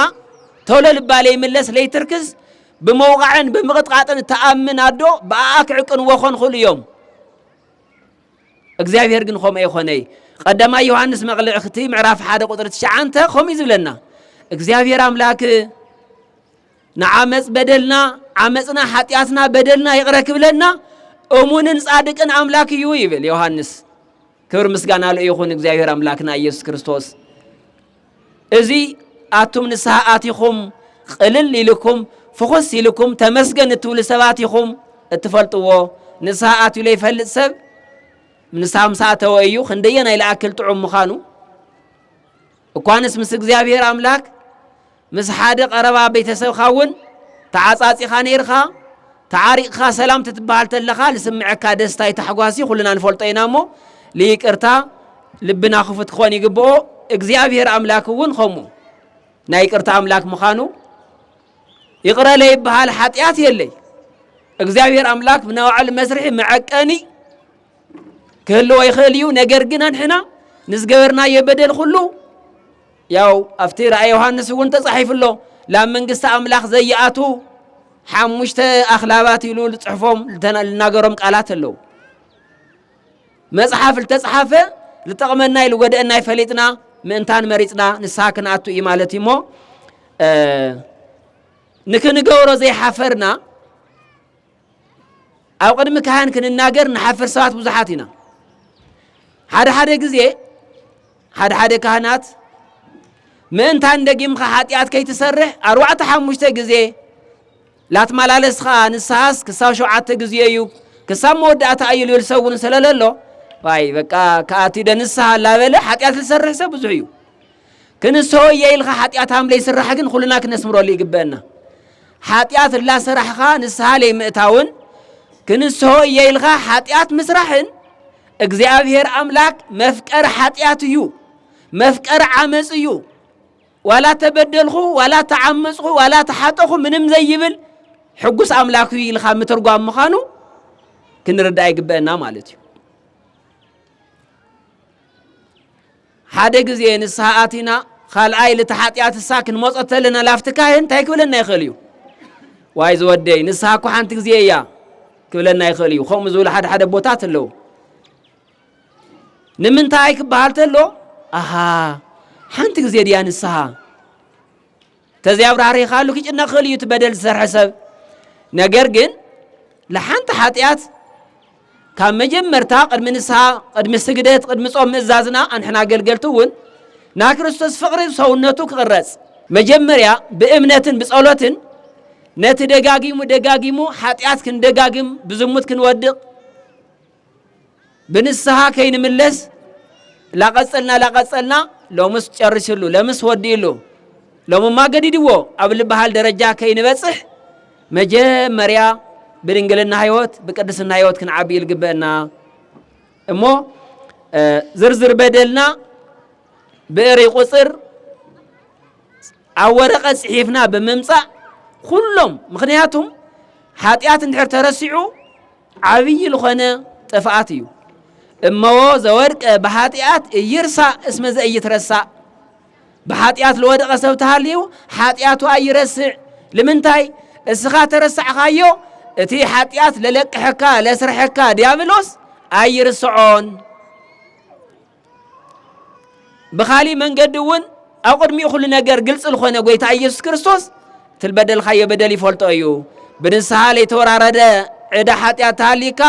Speaker 1: ቶሎ ልባ ለይምለስ ለይትርክዝ ብምውቓዕን ብምቕጥቓጥን እትኣምን ኣዶ ብኣኣ ክዕቅንዎ ኮን ኹሉ እዮም። እግዚኣብሔር ግን ከምኡ ኣይኮነይ። ቀዳማይ ዮሃንስ መቕልዕክቲ ምዕራፍ ሓደ ቁጥሪ ትሽዓንተ ከምኡ ዝብለና እግዚኣብሔር ኣምላክ ንዓመጽ በደልና ዓመጽና ሓጢኣትና በደልና ይቕረ ክብለና እሙንን ጻድቅን ኣምላክ እዩ ይብል ዮሃንስ። ክብር ምስጋና ሉ ይኹን እግዚኣብሔር ኣምላክና ኢየሱስ ክርስቶስ። እዚ ኣቱም ንስሓ ኣቲኹም ቕልል ኢልኩም ፍኹስ ኢልኩም ተመስገን እትብሉ ሰባት ኢኹም እትፈልጥዎ። ንስሓ ኣትዩ ለይፈልጥ ሰብ ንስሓ ምስ ኣተወ እዩ ክንደየናይ ልኣክል ጥዑም ምዃኑ እኳንስ ምስ እግዚኣብሔር ኣምላክ ምስ ሓደ ቀረባ ቤተሰብካ እውን ተዓጻጺኻ ነይርካ ተዓሪቕካ ሰላም ትትበሃል ተለኻ ልስምዐካ ደስታይ ታሕጓሲ ኩልና ንፈልጦ ኢና እሞ ልይቅርታ ልብና ክፉት ክኾን ይግብኦ እግዚኣብሔር ኣምላክ እውን ከምኡ ናይ ይቅርታ ኣምላክ ምዃኑ ይቕረ ለይበሃል ሓጢኣት የለይ እግዚኣብሔር ኣምላክ ብናባዕሉ መስርሒ መዐቀኒ ክህልዎ ይኽእል እዩ። ነገር ግን ኣንሕና ንዝገበርናዮ በደል ኩሉ ያው ኣብቲ ራእይ ዮሃንስ እውን ተጻሒፉ ኣሎ ላብ መንግስቲ ኣምላኽ ዘይኣቱ ሓሙሽተ ኣኽላባት ኢሉ ዝጽሕፎም ልናገሮም ቃላት ኣለዉ መጽሓፍ ልተጽሓፈ ልጠቕመና ኢሉ ጎደአና ይፈሊጥና ምእንታን መሪጽና ንስሓ ክንኣቱ እዩ ማለት እዩ እሞ ንክንገብሮ ዘይሓፈርና ኣብ ቅድሚ ካህን ክንናገር ንሓፍር ሰባት ብዙሓት ኢና ሓደ ሓደ ግዜ ሓደ ሓደ ካህናት ምእንታን ደጊምካ ሓጢኣት ከይትሰርሕ ኣርባዕተ ሓሙሽተ ግዜ ላትመላለስ ከዓ ንስሓስ ክሳብ ሸውዓተ ግዜ እዩ ክሳብ መወዳእታ እዩ ልብል ሰብ እውን ስለለሎ ዋይ በቃ ከኣቲ ደ ንስሓ ላበለ ሓጢኣት ዝሰርሕ ሰብ ብዙሕ እዩ ክንሶ እየ ኢልኻ ሓጢኣት ሃም ለይስራሕ ግን ኩልና ክነስምረሉ ይግበአና። ሓጢኣት እላሰራሕኻ ንስሃ ለይምእታውን ክንሶ እየ ኢልኻ ሓጢኣት ምስራሕን እግዚኣብሔር ኣምላክ መፍቀር ሓጢኣት እዩ፣ መፍቀር ዓመፅ እዩ። ዋላ ተበደልኹ ዋላ ተዓመፅኹ ዋላ ተሓጠኹ ምንም ዘይብል ሕጉስ ኣምላክ እዩ ኢልካ ምትርጓም ምዃኑ ክንርዳእ ይግበአና ማለት እዩ። ሓደ ግዜ ንስሓ ኣቲና ኻልኣይ ልቲ ሓጢኣትሳ ክንመጾ ተለና ላፍቲ ካህን እንታይ ክብለና ይኽእል እዩ? ዋይ ዝወደይ ንስሓ እኮ ሓንቲ ግዜ እያ ክብለና ይኽእል እዩ። ከምኡ ዝብሉ ሓደ ሓደ ቦታት ኣለዉ። ንምንታይ ክበሃል ተሎ ኣሃ ሓንቲ ግዜ ድያ ንስሓ ተዘይ ኣብራህሪኻሉ ክጭነቕ ክእል እዩ እቲ በደል ዝሰርሐ ሰብ ነገር ግን ለሓንቲ ሓጢኣት ካብ መጀመርታ ቅድሚ ንስሓ ቅድሚ ስግደት ቅድሚ ጾም ምእዛዝና ኣንሕና ኣገልገልቲ እውን ናይ ክርስቶስ ፍቕሪ ሰውነቱ ክቕረጽ መጀመርያ ብእምነትን ብጸሎትን ነቲ ደጋጊሙ ደጋጊሙ ሓጢኣት ክንደጋግም ብዝሙት ክንወድቕ ብንስሃ ከይንምለስ ላቐጸልና ላቐጸልና ሎምስ ጨሪሱሉ ለምስ ወዲኡሉ ሎምማ ገዲድዎ ኣብ ልበሃል ደረጃ ከይንበጽሕ መጀመርያ ብድንግልና ህይወት ብቅድስና ህይወት ክንዓቢ ልግበአና እሞ ዝርዝር በደልና ብእሪ ቁፅር ኣብ ወረቐት ጽሒፍና ብምምጻእ ኩሎም ምክንያቱም ሓጢኣት እንድሕር ተረሲዑ ዓብዪ ልኾነ ጥፍኣት እዩ እመዎ ዘወድቀ ብኃጢኣት እይርሳእ እስመ ዘእይትረሳእ ብኃጢኣት ልወደቐ ሰብ ተሃልዩ ኃጢኣቱ ኣይረስዕ ልምንታይ እስኻ ተረሳዕኻዮ እቲ ኃጢኣት ለለቅሐካ ለስርሐካ ዲያብሎስ ኣይርስዖን ብኻሊእ መንገዲ እውን ኣብ ቅድሚ ኩሉ ነገር ግልፂ ዝኾነ ጎይታ ኢየሱስ ክርስቶስ ትልበደልካዮ በደል ይፈልጦ እዩ ብንስሓ ለይተወራረደ ዕዳ ሓጢኣት ተሃሊካ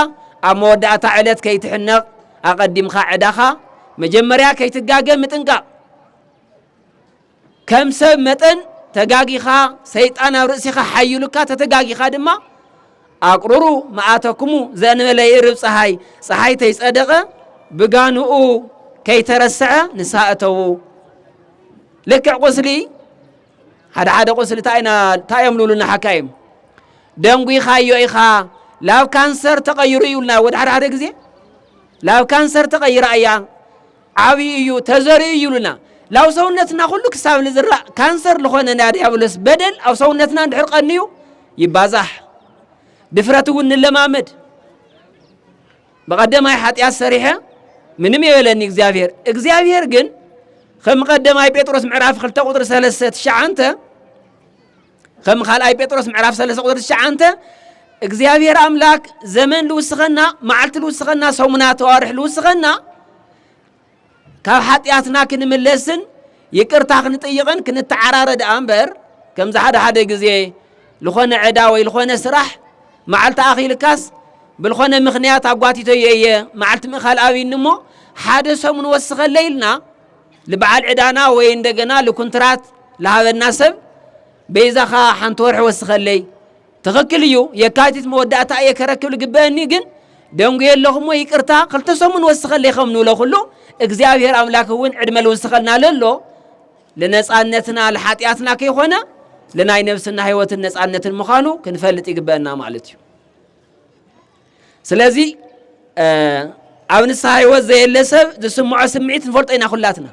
Speaker 1: ኣብ መወዳእታ ዕለት ከይትሕነቕ ኣቐዲምካ ዕዳኻ መጀመርያ ከይትጋገ ምጥንቃቕ ከም ሰብ መጠን ተጋጊኻ ሰይጣን ኣብ ርእሲኻ ሓይሉካ ተተጋጊኻ ድማ ኣቁሩሩ መኣተኩሙ ዘእንበለ ይእርብ ፀሓይ ፀሓይ ተይፀደቐ ብጋንኡ ከይተረሰዐ ንስሃ እተዉ ልክዕ ቁስሊ ሓደ ሓደ ቁስሊ እንታይ እዮም ልብሉና ሓካይም ደንጒኻዮ ኢኻ ላብ ካንሰር ተቐይሩ እዩልና ወደ ሓደ ሓደ ግዜ ላብ ካንሰር ተቐይራ እያ ዓብዩ እዩ ተዘሪኡ እዩ ኢሉና ላብ ሰውነትና ኩሉ ክሳብ ንዝራእ ካንሰር ልኾነ ናይ ዲያብሎስ በደል ኣብ ሰውነትና እንድሕር ቀንዩ ይባዛሕ ድፍረት እውን ንለማመድ ብቀደማይ ሓጢኣት ሰሪሐ ምንም የበለኒ እግዚኣብሔር እግዚኣብሔር ግን ከም ቀደማይ ጴጥሮስ ምዕራፍ ክልተ ቁጥሪ ሰለስተ ትሽዓንተ ከም ካልኣይ ጴጥሮስ ምዕራፍ 3 ቁጥሪ 9 እግዚኣብሔር ኣምላክ ዘመን ልውስኸና መዓልቲ ልውስኸና ሰሙናት ኣዋርሕ ልውስኸና ካብ ሓጢኣትና ክንምለስን ይቅርታ ክንጥይቕን ክንተዓራረ ደኣ እምበር ከምዚ ሓደ ሓደ ግዜ ዝኾነ ዕዳ ወይ ዝኾነ ስራሕ መዓልቲ ኣኺልካስ ብልኾነ ምኽንያት ኣጓቲቶዮ እየ መዓልቲ ምእካል ኣብኒ እሞ ሓደ ሰሙን ወስኸለ ኢልና ልበዓል ዕዳና ወይ እንደገና ልኩንትራት ልሃበና ሰብ በይዛኻ ሓንቲ ወርሒ ወስኸለይ ትኽክል እዩ የካቲት መወዳእታ እየ ከረክብ ልግበአኒ ግን ደንጉየ ኣለኹሞ ይቅርታ ክልተ ሰሙን ወስኸለይ ከም ንብሎ ኩሉ እግዚኣብሔር ኣምላክ እውን ዕድመ ልውስኸልና ለሎ ልነፃነትና ልሓጢኣትና ከይኮነ ልናይ ነብስና ህይወትን ነፃነትን ምዃኑ ክንፈልጥ ይግበአና ማለት እዩ ስለዚ ኣብ ንስሓ ህይወት ዘየለ ሰብ ዝስምዖ ስምዒት ንፈልጦ ኢና ኩላትና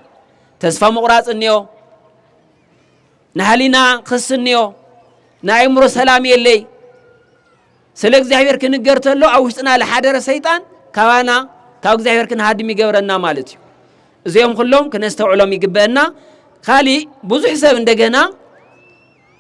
Speaker 1: ተስፋ ምቑራፅ እኒኦ ናይ ህሊና ክስ እኒኦ ናይ ኣእምሮ ሰላም የለይ ስለ እግዚኣብሔር ክንገር ተሎ ኣብ ውሽጥና ዝሓደረ ሰይጣን ካባና ካብ እግዚኣብሔር ክንሃድም ይገብረና ማለት እዩ እዚኦም ኩሎም ክነስተውዕሎም ይግበአና ካሊእ ብዙሕ ሰብ እንደገና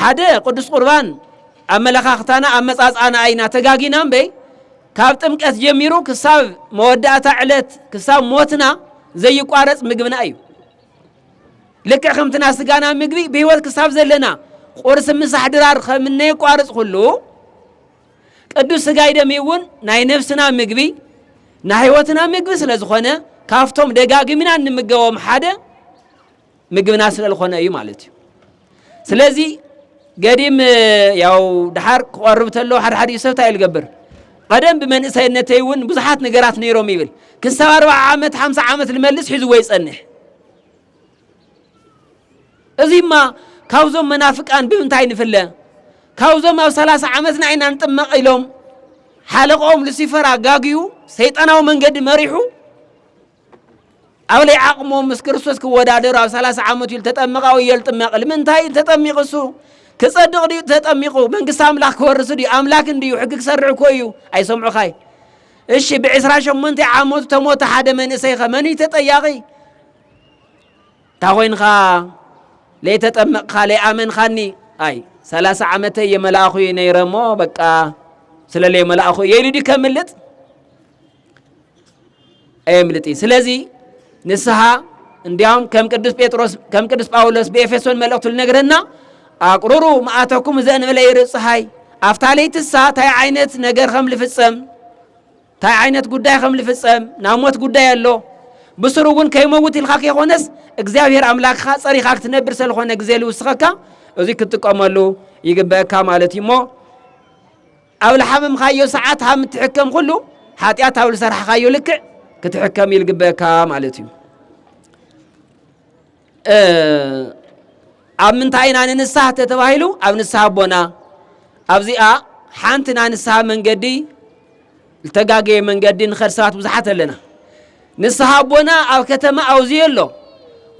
Speaker 1: ሓደ ቅዱስ ቁርባን ኣመለኻኽታና ኣመጻጽኣና ኣይና ተጋጊና እምበይ ካብ ጥምቀት ጀሚሩ ክሳብ መወዳእታ ዕለት ክሳብ ሞትና ዘይቋረጽ ምግብና እዩ ልክዕ ከምትና ስጋና ምግቢ ብህይወት ክሳብ ዘለና ቁርሲ ምሳሕ ድራር ከምነይቋርጽ ኩሉ ቅዱስ ስጋይ ደሚ እውን ናይ ነፍስና ምግቢ ናይ ህይወትና ምግቢ ስለ ዝኾነ ካብቶም ደጋግምና እንምገቦም ሓደ ምግብና ስለ ዝኾነ እዩ ማለት እዩ ስለዚ ገዲም ያው ድሓር ክቐርብ ተሎ ሓደ ሓደ ሰብ እንታይ ልገብር ቀደም ብመንእሰይነተይ እውን ብዙሓት ነገራት ነይሮም ይብል ክሳብ ኣርባዓ ዓመት ሓምሳ ዓመት ልመልስ ሒዝዎ ይጸንሕ እዚማ ካብዞም መናፍቃን ብምንታይ ንፍለ ካብዞም ኣብ ሰላሳ ዓመትና ኢና ንጥመቕ ኢሎም ሓለቆኦም ሉሲፈር ኣጋግዩ ሰይጣናዊ መንገዲ መሪሑ ኣብ ለይ ዓቕሞም ምስ ክርስቶስ ክወዳደሩ ኣብ ሰላሳ ዓመት እዩ ተጠምቃ ወይ የልጥመቕ ልምንታይ እዩ ተጠሚቑ እሱ ክጸድቕ ድዩ ተጠሚቑ መንግስቲ ኣምላኽ ክወርስ ድዩ ኣምላክ እንድዩ ሕጊ ክሰርዕ እኮ እዩ ኣይሰምዑኻይ እሺ ብዕስራ ሸሞንተ ዓመቱ ተሞተ ሓደ መንእሰይ ኸ መን እዩ ተጠያቒ እንታ ኾይንኻ ለይተጠመቕኻ ለይኣመንኻኒ ኣይ ሰላሳ ዓመተ የመላእኹ እዩ ነይረ እሞ በቃ ስለ ለይመላእኹ እየ ኢሉ ድዩ ከምልጥ ኣየምልጥ እዩ። ስለዚ ንስሓ እንዲያውም ከም ቅዱስ ጴጥሮስ ከም ቅዱስ ጳውሎስ ብኤፌሶን መልእኽቱ ልነግረና ኣቁሩሩ መዓተኩም ዘእንበለ ይርእ ፀሓይ ኣብታ ለይትሳ እንታይ ዓይነት ነገር ከም ልፍፀም እንታይ ዓይነት ጉዳይ ከም ልፍፀም ናብ ሞት ጉዳይ ኣሎ ብስሩ እውን ከይመውት ኢልካ ከይኮነስ እግዚኣብሔር ኣምላክካ ፀሪኻ ክትነብር ስለኾነ ግዜ ልውስኸካ እዚ ክትጥቀመሉ ይግበአካ ማለት እዩ እሞ ኣብ ልሓመምካዮ ሰዓት ሃም እትሕከም ኩሉ ሓጢኣት ኣብ ልሰርሕኻዮ ልክዕ ክትሕከም ይልግበካ ማለት እዩ ኣብ ምንታይ ኢና ንንስሓ ተተባሂሉ ኣብ ንስሓ ኣቦና ኣብዚኣ ሓንቲ ናይ ንስሓ መንገዲ ዝተጋገየ መንገዲ ንኸድ ሰባት ብዙሓት ኣለና ንስሓ ኣቦና ኣብ ከተማ ኣውዝዮ ኣሎ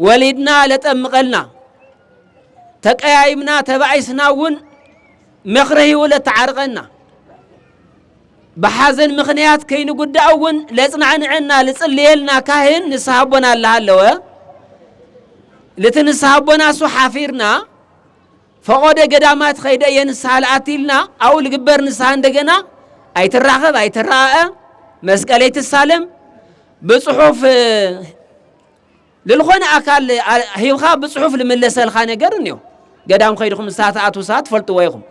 Speaker 1: ወሊድና ለጠምቐልና ተቀያይምና ተባኢስና እውን መክረሂኡ ለተዓርቀና ብሓዘን ምክንያት ከይንጉዳእ እውን ለጽናዕንዐና ልጽልየልና ካህን ንስሓ ኣቦና ኣለሃለወ ልቲ ንስሓ ኣቦና እሱ ሓፊርና ፈቆደ ገዳማት ኸይደ እየ ንስሓ ልኣትልና ኣኡ ልግበር ንስሓ እንደገና ኣይትራኸብ ኣይትረኣአ መስቀለይ ትሳለም ብጽሑፍ ልልኾነ ኣካል ሂብኻ ብጽሑፍ ልምለሰልኻ ነገር እንዮ ገዳም ኸይድኹም ንስሓ ትኣትዉ ሰባት ትፈልጥዎ ኢኹም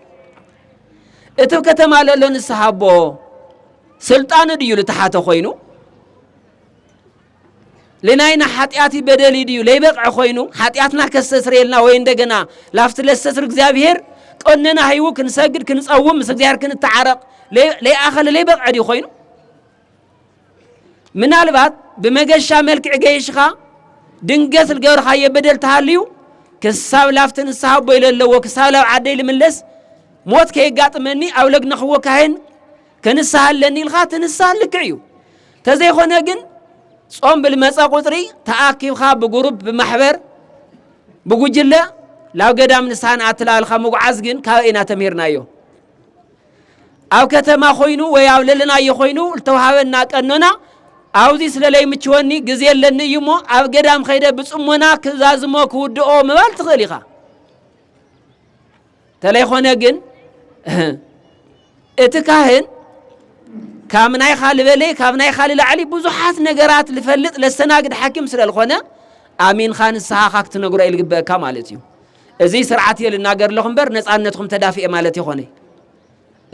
Speaker 1: እቲ ብ ከተማ ለሎ ንስሓ ኣቦ ስልጣኑ ድዩ ልተሓተ ኾይኑ ልናይና ሓጢኣት በደል ድዩ ለይበቕዐ ኾይኑ ሓጢኣትና ከስተስርየልና ወይ እንደገና ላፍቲ ለሰስር እግዚኣብሄር ቀነና ሂቡ ክንሰግድ ክንጸውም ምስ እግዚኣብሄር ክንተዓረቕ ለይኣኸለ ለይበቕዐ ድዩ ኾይኑ ምናልባት ብመገሻ መልክዕ ገይሽኻ ድንገት ልገብርኻዮ በደል ተሃልዩ ክሳብ ላፍቲ ንስሓ ኣቦ ኢለ ኣለዎ ክሳብ ላብ ዓደይ ልምለስ ሞት ከየጋጥመኒ ኣብ ለግነኽዎ ካህን ክንስሓ ኣለኒ ኢልካ ትንስሓ ልክዕ እዩ ተዘይኮነ ግን ጾም ብልመፀ ቁፅሪ ተኣኪብካ ብጉሩብ ብማሕበር ብጉጅለ ላብ ገዳም ንስሓ ንኣትላልካ ምጉዓዝ ግን ካበይ ኢና ተምሂርናዮ ኣብ ከተማ ኮይኑ ወይ ኣብ ለለናዮ ኮይኑ ዝተውሃበና ቀኖና ኣብዚ ስለ ለይምችወኒ ግዜ ኣለኒ እዩ እሞ ኣብ ገዳም ከይደ ብጽሞና ክዛዝሞ ክውድኦ ምባል ትኽእል ኢኻ ተለይኾነ ግን እቲ ካህን ካብ ናይኻ ልበለ ካብ ናይኻ ልላዕሊ ብዙሓት ነገራት ልፈልጥ ለስተናግድ ሓኪም ስለ ዝኾነ ኣሚንኻ ንስኻኻ ክትነግሮ ኢልግበአካ ማለት እዩ እዚ ስርዓት እየ ልናገር ኣለኹ እምበር ነፃነትኹም ተዳፍኤ ማለት የኾነይ።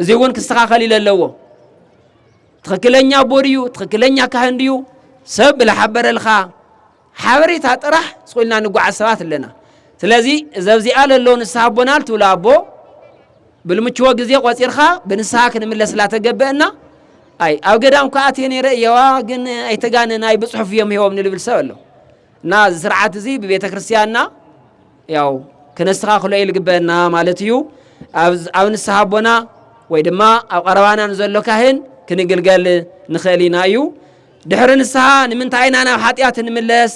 Speaker 1: እዚ እውን ክስተኻኸል ኢለ ኣለዎ። ትኽክለኛ ኣቦ ድዩ ትኽክለኛ ካህን ድዩ ሰብ ብላሓበረልካ ሓበሬታ ጥራሕ ስቁልና ንጓዓዝ ሰባት ኣለና። ስለዚ እዚ ኣብዚኣ ለሎ ንስሓ ኣቦና ልትብሎ ኣቦ ብልምችዎ ግዜ ቆፂርካ ብንስሓ ክንምለስላ ተገበአና። ኣይ ኣብ ገዳም ከዓ እየ ነይረ እየዋ ግን ኣይተጋነን ኣይ ብፅሑፍ እዮም ሂቦም ንልብል ሰብ ኣሎ። እና እዚ ስርዓት እዚ ብቤተ ክርስቲያንና ያው ክነስተኻኽሎ እዩ ልግበአና ማለት እዩ ኣብ ንስሓ ኣቦና ወይ ድማ ኣብ ቀረባና ንዘሎ ካህን ክንግልገል ንኽእል ኢና እዩ ድሕሪ ንስሓ ንምንታይ ኢና ናብ ሓጢኣት ንምለስ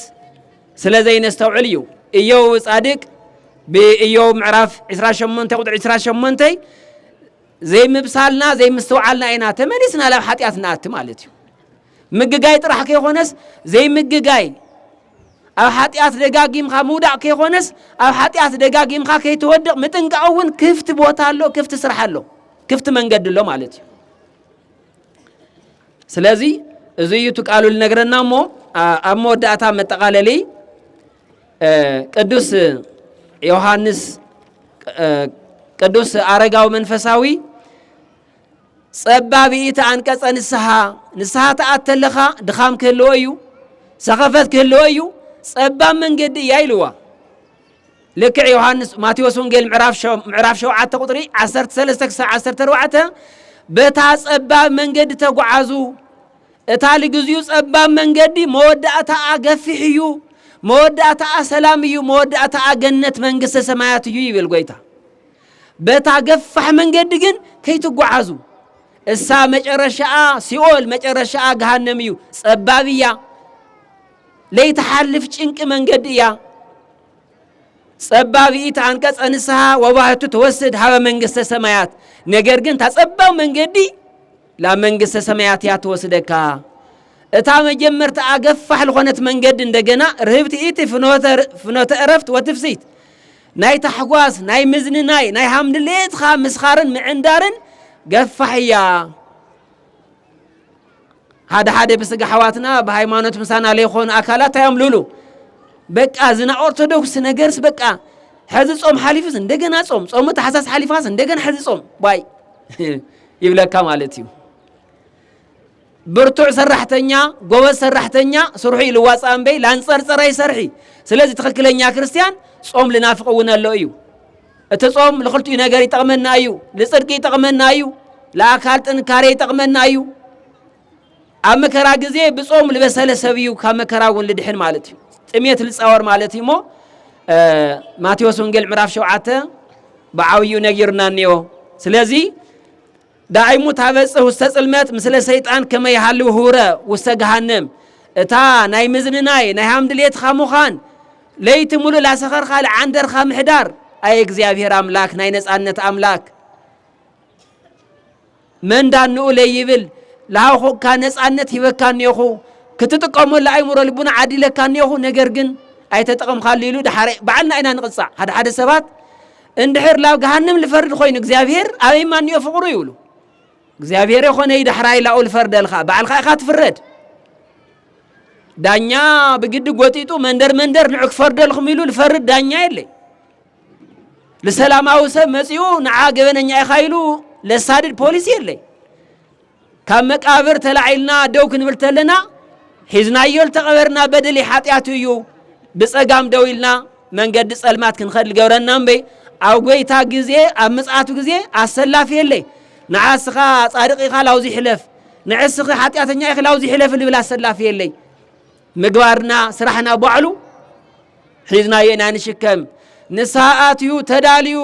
Speaker 1: ስለ ዘይነስተውዕል እዩ እዮው ጻድቅ ብእዮው ምዕራፍ 28 ቁጥሪ 28 ዘይምብሳልና ዘይምስትውዓልና ኢና ተመሊስና ናብ ሓጢኣት ንኣቲ ማለት እዩ ምግጋይ ጥራሕ ከይኾነስ ዘይምግጋይ፣ ኣብ ሓጢኣት ደጋጊምካ ምውዳቕ ከይኾነስ ኣብ ሓጢኣት ደጋጊምካ ከይትወድቕ ምጥንቃቕ እውን ክፍቲ ቦታ ኣሎ፣ ክፍቲ ስራሕ ኣሎ፣ ክፍቲ መንገዲ ኣሎ ማለት እዩ። ስለዚ እዚ እዩ እቲ ቃሉ ልነግረና እሞ ኣብ መወዳእታ መጠቓለሊ ቅዱስ ዮሃንስ ቅዱስ ኣረጋዊ መንፈሳዊ ጸባብኢት ኣንቀጸ ንስሓ፣ ንስሓ ትኣት ተለኻ ድኻም ክህልዎ እዩ፣ ሰኸፈት ክህልዎ እዩ፣ ጸባብ መንገዲ እያ ኢልዋ። ልክዕ ዮሃንስ ማቴዎስ ወንጌል ምዕራፍ ሸውዓተ ቁጥሪ ዓሰርተ ሰለስተ ክሳብ ዓሰርተ ኣርባዕተ በታ ጸባብ መንገዲ ተጓዓዙ እታ ልግዚኡ ጸባብ መንገዲ መወዳእታኣ ገፊሕ እዩ፣ መወዳእታኣ ሰላም እዩ፣ መወዳእታኣ ገነት መንግስተ ሰማያት እዩ ይብል ጎይታ። በታ ገፋሕ መንገዲ ግን ከይትጓዓዙ እሳ መጨረሻኣ ሲኦል መጨረሻኣ ገሃነም እዩ ጸባብ እያ ለይትሓልፍ ጭንቂ መንገዲ እያ ጸባብ ኢት ኣንቀጸ ንስሓ ወባህቱ ተወስድ ሃበ መንግስተ ሰማያት ነገር ግን እታ ጸባብ መንገዲ ላብ መንግስተ ሰማያት እያ ትወስደካ እታ መጀመርታ ኣገፋሕ ዝኾነት መንገዲ እንደገና ርህብቲ ኢቲ ፍኖተ እረፍት ወትፍሲት ናይ ታሕጓስ፣ ናይ ምዝንናይ፣ ናይ ሃም ድሌትኻ ምስኻርን ምዕንዳርን ገፋሕ እያ። ሓደ ሓደ ብስጋ ኣሕዋትና ብሃይማኖት ምሳና ለይኾኑ ኣካላት እንታይ እዮም ልብሉ? በቃ እዚ ናይ ኦርቶዶክስ ነገርስ በቃ ሕዚ ጾም ሓሊፉስ እንደገና ጾም፣ ጾሙ ታሕሳስ ሓሊፋስ እንደገና ሕዚ ጾም ባይ ይብለካ ማለት እዩ። ብርቱዕ ሰራሕተኛ ጎበዝ ሰራሕተኛ ስርሑ እዩ ልዋፃእ እምበይ ላንፀርፀር ኣይሰርሒ ስለዚ ትኽክለኛ ክርስትያን ጾም ልናፍቅ እውን ኣሎ እዩ እቲ ጾም ንክልቲኡ ነገር ይጠቕመና እዩ ንፅድቂ ይጠቕመና እዩ ለኣካል ጥንካሬ ይጠቕመና እዩ ኣብ መከራ ግዜ ብጾም ልበሰለ ሰብ እዩ ካብ መከራ እውን ልድሕን ማለት እዩ ጥሜት ልፃወር ማለት እዩ እሞ ማቴዎስ ወንጌል ምዕራፍ ሸውዓተ ብዓብዩ ነጊሩና እኒኦ ስለዚ ዳይሙ ታበጽህ ውስተ ጽልመት ምስለ ሰይጣን ከመ ይሃልው ህውረ ውስተ ገሃነም እታ ናይ ምዝንናይ ናይ ሃም ድሌትኻ ምዃን ለይቲ ሙሉእ ላሰኸርካ ልዓንደርካ ምሕዳር ኣየ እግዚኣብሔር ኣምላክ ናይ ነፃነት ኣምላክ መንዳንኡ ለይብል ለሃውኹካ ነፃነት ሂበካ እኔኹ ክትጥቀመሉ ኣይምሮ ልቡና ዓዲለካ እኔኹ ነገር ግን ኣይተጠቐምካሉ ኢሉ ድሓረ ባዕልና ኢና ንቕፃዕ ሓደ ሓደ ሰባት እንድሕር ላብ ገሃንም ልፈርድ ኾይኑ እግዚኣብሔር ኣበይ ማንዮ ፍቕሩ ይብሉ እግዚኣብሔር የኾነይ ዳሕራይ ላኡ ልፈርደልኻ ባዕልኻ ኢኻ ትፍረድ ዳኛ ብግዲ ጎጢጡ መንደር መንደር ንዑ ክፈርደልኹም ኢሉ ልፈርድ ዳኛ የለይ ልሰላማዊ ሰብ መፂኡ ንዓ ገበነኛ ኢኻ ኢሉ ለሳድድ ፖሊስ የለይ ካብ መቃብር ተላዒልና ደው ክንብል ተለና ሒዝናዮ ዝተቐበርና በደሊ ሓጢኣቱ እዩ ብጸጋም ደው ኢልና መንገዲ ጸልማት ክንኸድ ዝገብረና እምበይ ኣብ ጎይታ ግዜ ኣብ ምጽኣቱ ግዜ ኣሰላፊ የለይ ንዓስኻ ጻድቕ ኢኻ ላውዚ ሕለፍ ንዕስኺ ሓጢኣተኛ ኢኺ ላውዚ ሕለፍ ልብል ኣሰላፊ የለይ ምግባርና ስራሕና ባዕሉ ሒዝናዮ ኢና ንሽከም ንስሓ ኣትዩ ተዳልዩ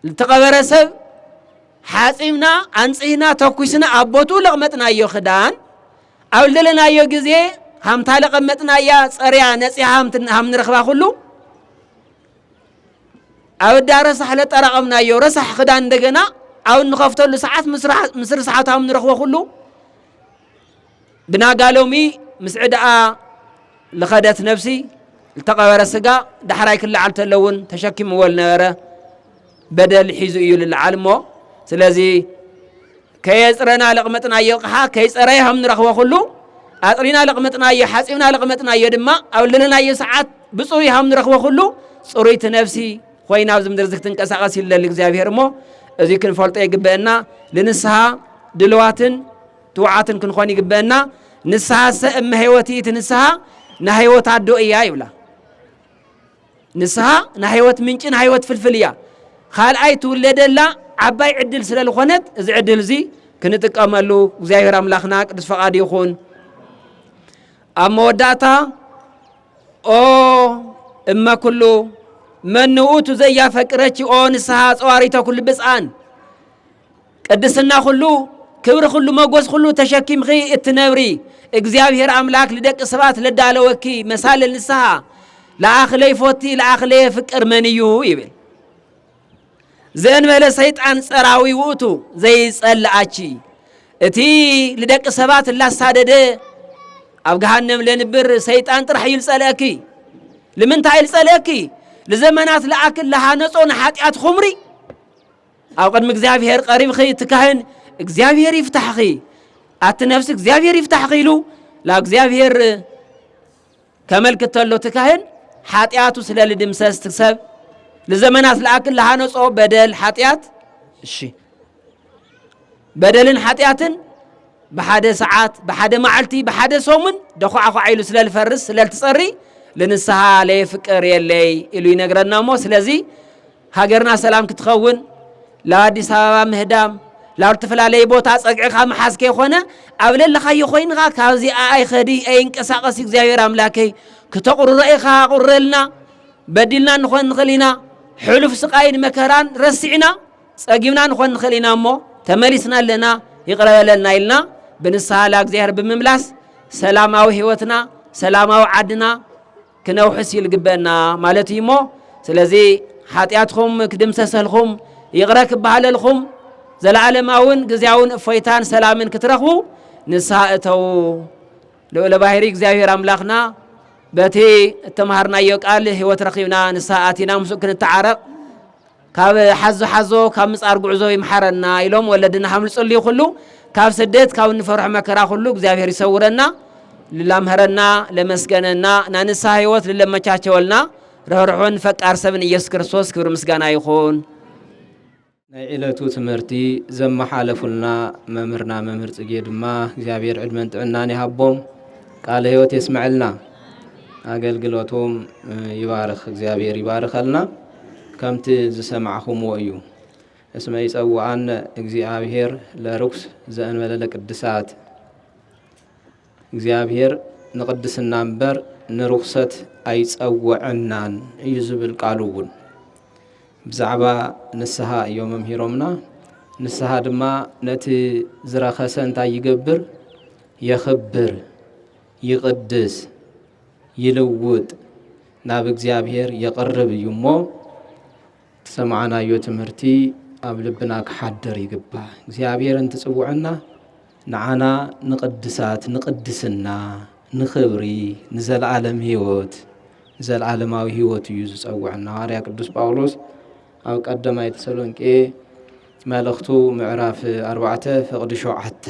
Speaker 1: ዝተቐበረ ሰብ ሓጺብና ኣንጽህና ተኩስና ኣብ ቦትኡ ለቕመጥናዮ ክዳን ኣብ ዘለናዮ ግዜ ሃምታ ለቐመጥናያ ጸርያ ነጺሃ ሃም ንረኽባ ኩሉ ኣብ እዳ ረሳሕ ለጠራቐምናዮ ረሳሕ ክዳን እንደገና ኣብ እንኸፍተሉ ሰዓት ምስ ርስሓቱ ሃም ንረኽቦ ኩሉ ብናጋ ሎሚ ምስ ዕዳኣ ልኸደት ነብሲ ልተቐበረ ስጋ ዳሕራይ ክለዓል ተለውን ተሸኪምዎ ልነበረ በደል ሒዙ እዩ ልለዓል እሞ ስለዚ ከየፅረና ለቕመጥናዮ ቕሓ ከይፀረየ ከም ንረኽቦ ኩሉ ኣጥሪና ለቕመጥናዮ ሓፂብና ለቕመጥናዮ ድማ ኣብ ልለናዮ ሰዓት ብፅሩይ ከም ንረኽቦ ኩሉ ፅሩይቲ ነብሲ ኮይና ኣብዚ ምድሪ እዚ ክትንቀሳቐስ ይለሊ እግዚኣብሄር እሞ እዚ ክንፈልጦ ይግበአና ልንስሃ ድልዋትን ትውዓትን ክንኾን ይግበእና ንስሃሰ እመ ሕይወት ይእቲ ንስሃ ናሕይወት ኣዶ እያ ይብላ ንስሃ ናሕይወት ምንጭ ናሕይወት ፍልፍል እያ ካልኣይ ትውለደላ ዓባይ ዕድል ስለ ዝኾነት እዚ ዕድል እዚ ክንጥቀመሉ እግዚኣብሔር ኣምላኽና ቅዱስ ፈቓድ ይኹን ኣብ መወዳእታ ኦ እመ ኩሉ መን ውእቱ ዘያፈቅረኪ ኦ ንስሓ ጸዋሪተ ኩሉ ብፅኣን ቅድስና ኩሉ ክብሪ ኩሉ መጎስ ኩሉ ተሸኪምኺ እትነብሪ እግዚኣብሔር ኣምላክ ልደቂ ሰባት ለዳለወኪ መሳልል ንስሃ ለኣኽ ለይፎቲ ለኣኽ ለየፍቅር መን እዩ ይብል ዘእንበለ ሰይጣን ጸራዊ ውእቱ ዘይጸልኣቺ እቲ ልደቂ ሰባት እላሳደደ ኣብ ገሃነም ለንብር ሰይጣን ጥራሕ እዩ ልጸልአኪ ልምንታይ እዩ ልጸልአኪ ልዘመናት ለኣክል ለሃነጾ ንሓጢኣት ኹምሪ ኣብ ቅድሚ እግዚኣብሔር ቀሪብኺ እቲ ካህን እግዚኣብሔር ይፍታሕኺ ኣቲ ነፍሲ እግዚኣብሔር ይፍታሕኺ ኢሉ ናብ እግዚኣብሔር ከመልክት ተሎ እቲ ካህን ሓጢኣቱ ስለ ልድምሰስ እቲ ሰብ ንዘመናት ለኣክል ለሃነጾ በደል ሓጢኣት እሺ በደልን ሓጢኣትን ብሓደ ሰዓት፣ ብሓደ መዓልቲ፣ ብሓደ ሰሙን ደዃዕዃዕ ኢሉ ስለልፈርስ ስለልትጸሪ ልንስሃ ለየፍቅር የለይ ኢሉ ይነግረና እሞ ስለዚ ሃገርና ሰላም ክትኸውን ላብ ኣዲስ ኣበባ ምህዳም ላብ ዝተፈላለየ ቦታ ጸግዕኻ ምሓዝ ከይኮነ ኣብ ለለኻዮ ኮይንኻ ካብዚ ኣይኸዲ ኣይንቀሳቐስ እግዚኣብሔር ኣምላከይ ክተቑርሮ ኢኻ ኣቑረልና በዲልና ንኾን ንኽእል ኢና ሕሉፍ ስቃይን መከራን ረሲዕና ጸጊብና ንኾን ንኽእል ኢና እሞ ተመሊስና ኣለና ይቕረ በለልና ኢልና ብንስሃ ላእግዚኣብሔር ብምምላስ ሰላማዊ ሕይወትና ሰላማዊ ዓድና ክነውሕስ እዩ ልግበእና ማለት እዩ እሞ ስለዚ ሓጢኣትኹም ክድምሰሰልኹም ይቕረ ክበሃለልኹም ዘለዓለማውን ግዜያውን እፎይታን ሰላምን ክትረኽቡ ንስሃ እተዉ ልኡለ ባህሪ እግዚኣብሔር ኣምላኽና በቲ እተምሃርናዮ ቃል ህይወት ረኺብና ንስሃ ኣቲና ምስኡ ክንተዓረቕ ካብ ሓዞ ሓዞ ካብ ምጻር ጉዕዞ ይምሓረና ኢሎም ወለድና ከም ዝጽልዩ ኩሉ ካብ ስደት ካብ እንፈርሖ መከራ ኩሉ እግዚኣብሔር ይሰውረና ልላምህረና ለመስገነና ናይ ንስሓ ህይወት ልለመቻቸወልና ርህርሑን ፈቃር ሰብን ኢየሱስ ክርስቶስ ክብሪ ምስጋና ይኹን። ናይ
Speaker 2: ዕለቱ ትምህርቲ ዘመሓለፉልና መምህርና መምህር ጽጌ ድማ እግዚኣብሔር ዕድመን ጥዕናን ይሃቦም፣ ቃለ ህይወት የስመዐልና፣ ኣገልግሎቶም ይባርኽ፣ እግዚኣብሔር ይባርኸልና። ከምቲ ዝሰማዕኹምዎ እዩ። እስመ ይጸውኣነ እግዚኣብሔር ለርኩስ ዘእንበለ ለቅድሳት እግዚኣብሔር ንቅድስና እምበር ንርኩሰት ኣይጸውዐናን እዩ ዝብል ቃሉ እውን ብዛዕባ ንስሃ እዮ መምሂሮምና ንስሃ ድማ ነቲ ዝረኸሰ እንታይ ይገብር የኽብር ይቕድስ፣ ይልውጥ፣ ናብ እግዚኣብሔር የቕርብ እዩ እሞ ዝሰማዕናዮ ትምህርቲ ኣብ ልብና ክሓድር ይግባእ። እግዚኣብሔር እንትጽውዐና ንዓና ንቕድሳት፣ ንቕድስና፣ ንኽብሪ፣ ንዘለዓለም ሕይወት ንዘለዓለማዊ ሕይወት እዩ ዝጸውዐና። ሃዋርያ ቅዱስ ጳውሎስ ኣብ ቀዳማይ ተሰሎንቄ መልእኽቱ ምዕራፍ ኣርባዕተ ፍቕዲ ሸውዓተ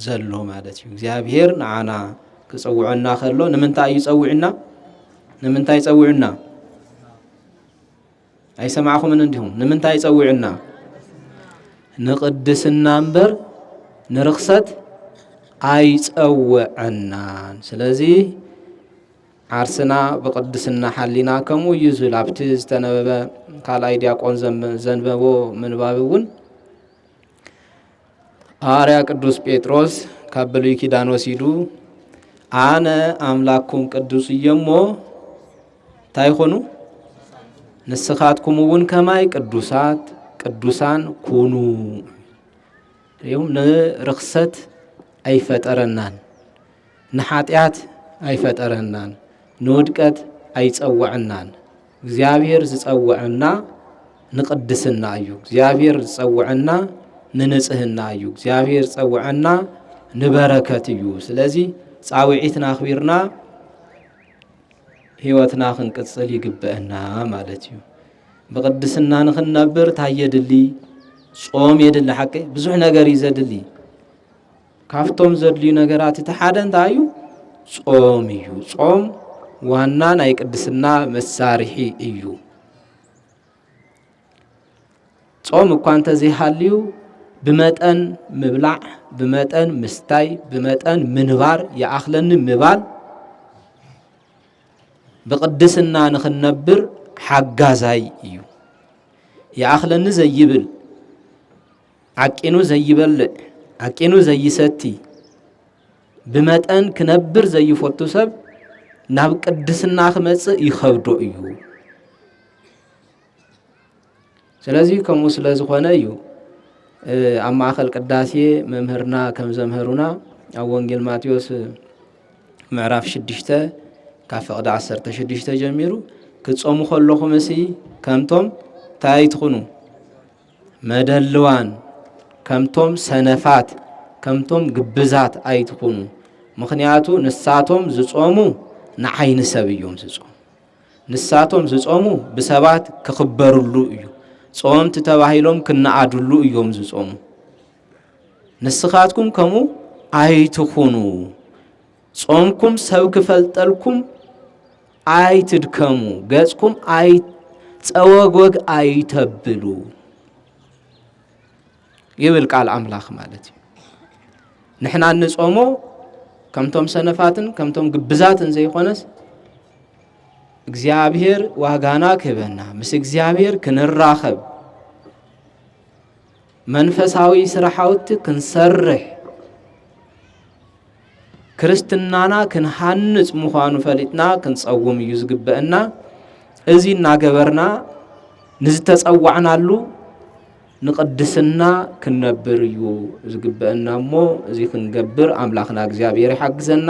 Speaker 2: ዘሎ ማለት እዩ እግዚኣብሔር ንዓና ክፀውዐና ከሎ ንምንታይ እዩ ፀዊዑና ንምንታይ ፀዊዑና ኣይሰማዕኹምን እንዲኹም ንምንታይ ፀዊዑና ንቅድስና እምበር ንርክሰት ኣይፀወዐናን ስለዚ ዓርስና ብቅድስና ሓሊና ከምኡ እዩ ዝብል ኣብቲ ዝተነበበ ካልኣይ ዲያቆን ዘንበቦ ምንባብ እውን ሃዋርያ ቅዱስ ጴጥሮስ ካብ ብሉይ ኪዳን ወሲዱ ኣነ ኣምላኩም ቅዱስ እየሞ እንታይ ይኾኑ ንስኻትኩም እውን ከማይ ቅዱሳት ቅዱሳን ኩኑ ሪኦም ንርክሰት ኣይፈጠረናን ንሓጢኣት ኣይፈጠረናን ንውድቀት ኣይጸወዐናን እግዚኣብሔር ዝጸውዐና ንቅድስና እዩ። እግዚኣብሔር ዝጸውዐና ንንጽህና እዩ። እግዚኣብሔር ዝጸውዐና ንበረከት እዩ። ስለዚ ጻውዒትና ኣኽቢርና ህይወትና ክንቅጽል ይግበአና ማለት እዩ። ብቅድስና ንኽንነብር እንታይ የድሊ? ጾም የድሊ ሓቂ ብዙሕ ነገር እዩ ዘድሊ ካብቶም ዘድልዩ ነገራት እቲ ሓደ እንታይ እዩ? ጾም እዩ። ጾም ዋና ናይ ቅድስና መሳርሒ እዩ። ጾም እኳ እንተዘይሃልዩ ብመጠን ምብላዕ፣ ብመጠን ምስታይ፣ ብመጠን ምንባር ይኣኽለኒ ምባል ብቅድስና ንኽንነብር ሓጋዛይ እዩ። ይኣኽለኒ ዘይብል ዓቂኑ ዘይበልዕ፣ ዓቂኑ ዘይሰቲ፣ ብመጠን ክነብር ዘይፈቱ ሰብ ናብ ቅድስና ክመጽእ ይኸብዶ እዩ። ስለዚ ከምኡ ስለ ዝኾነ እዩ ኣብ ማእኸል ቅዳሴ መምህርና ከም ዘምህሩና ኣብ ወንጌል ማቴዎስ ምዕራፍ ሽዱሽተ ካብ ፍቕዲ ዓሰርተ ሽዱሽተ ጀሚሩ ክትጾሙ ከለኹም እሲ ከምቶም እንታይ ኣይትኹኑ መደልዋን ከምቶም ሰነፋት ከምቶም ግብዛት ኣይትኹኑ። ምኽንያቱ ንሳቶም ዝጾሙ ንዓይኒ ሰብ እዮም ዝጾሙ። ንሳቶም ዝጾሙ ብሰባት ክኽበርሉ እዩ። ጾምቲ ተባሂሎም ክነኣድሉ እዮም ዝጾሙ። ንስኻትኩም ከምኡ ኣይትኹኑ። ጾምኩም ሰብ ክፈልጠልኩም ኣይትድከሙ፣ ገጽኩም ኣይ ጸወግወግ ኣይተብሉ ይብል ቃል ኣምላኽ ማለት እዩ። ንሕና እንጾሞ ከምቶም ሰነፋትን ከምቶም ግብዛትን ዘይኮነስ እግዚኣብሔር ዋጋና ክህበና ምስ እግዚኣብሔር ክንራኸብ መንፈሳዊ ስራሓውቲ ክንሰርሕ ክርስትናና ክንሃንጽ ምዃኑ ፈሊጥና ክንጸውም እዩ ዝግበአና። እዚ እናገበርና ንዝተጸዋዕናሉ ንቅድስና ክንነብር እዩ ዝግበአና እሞ እዚ ክንገብር ኣምላኽና እግዚኣብሔር ይሓግዘና።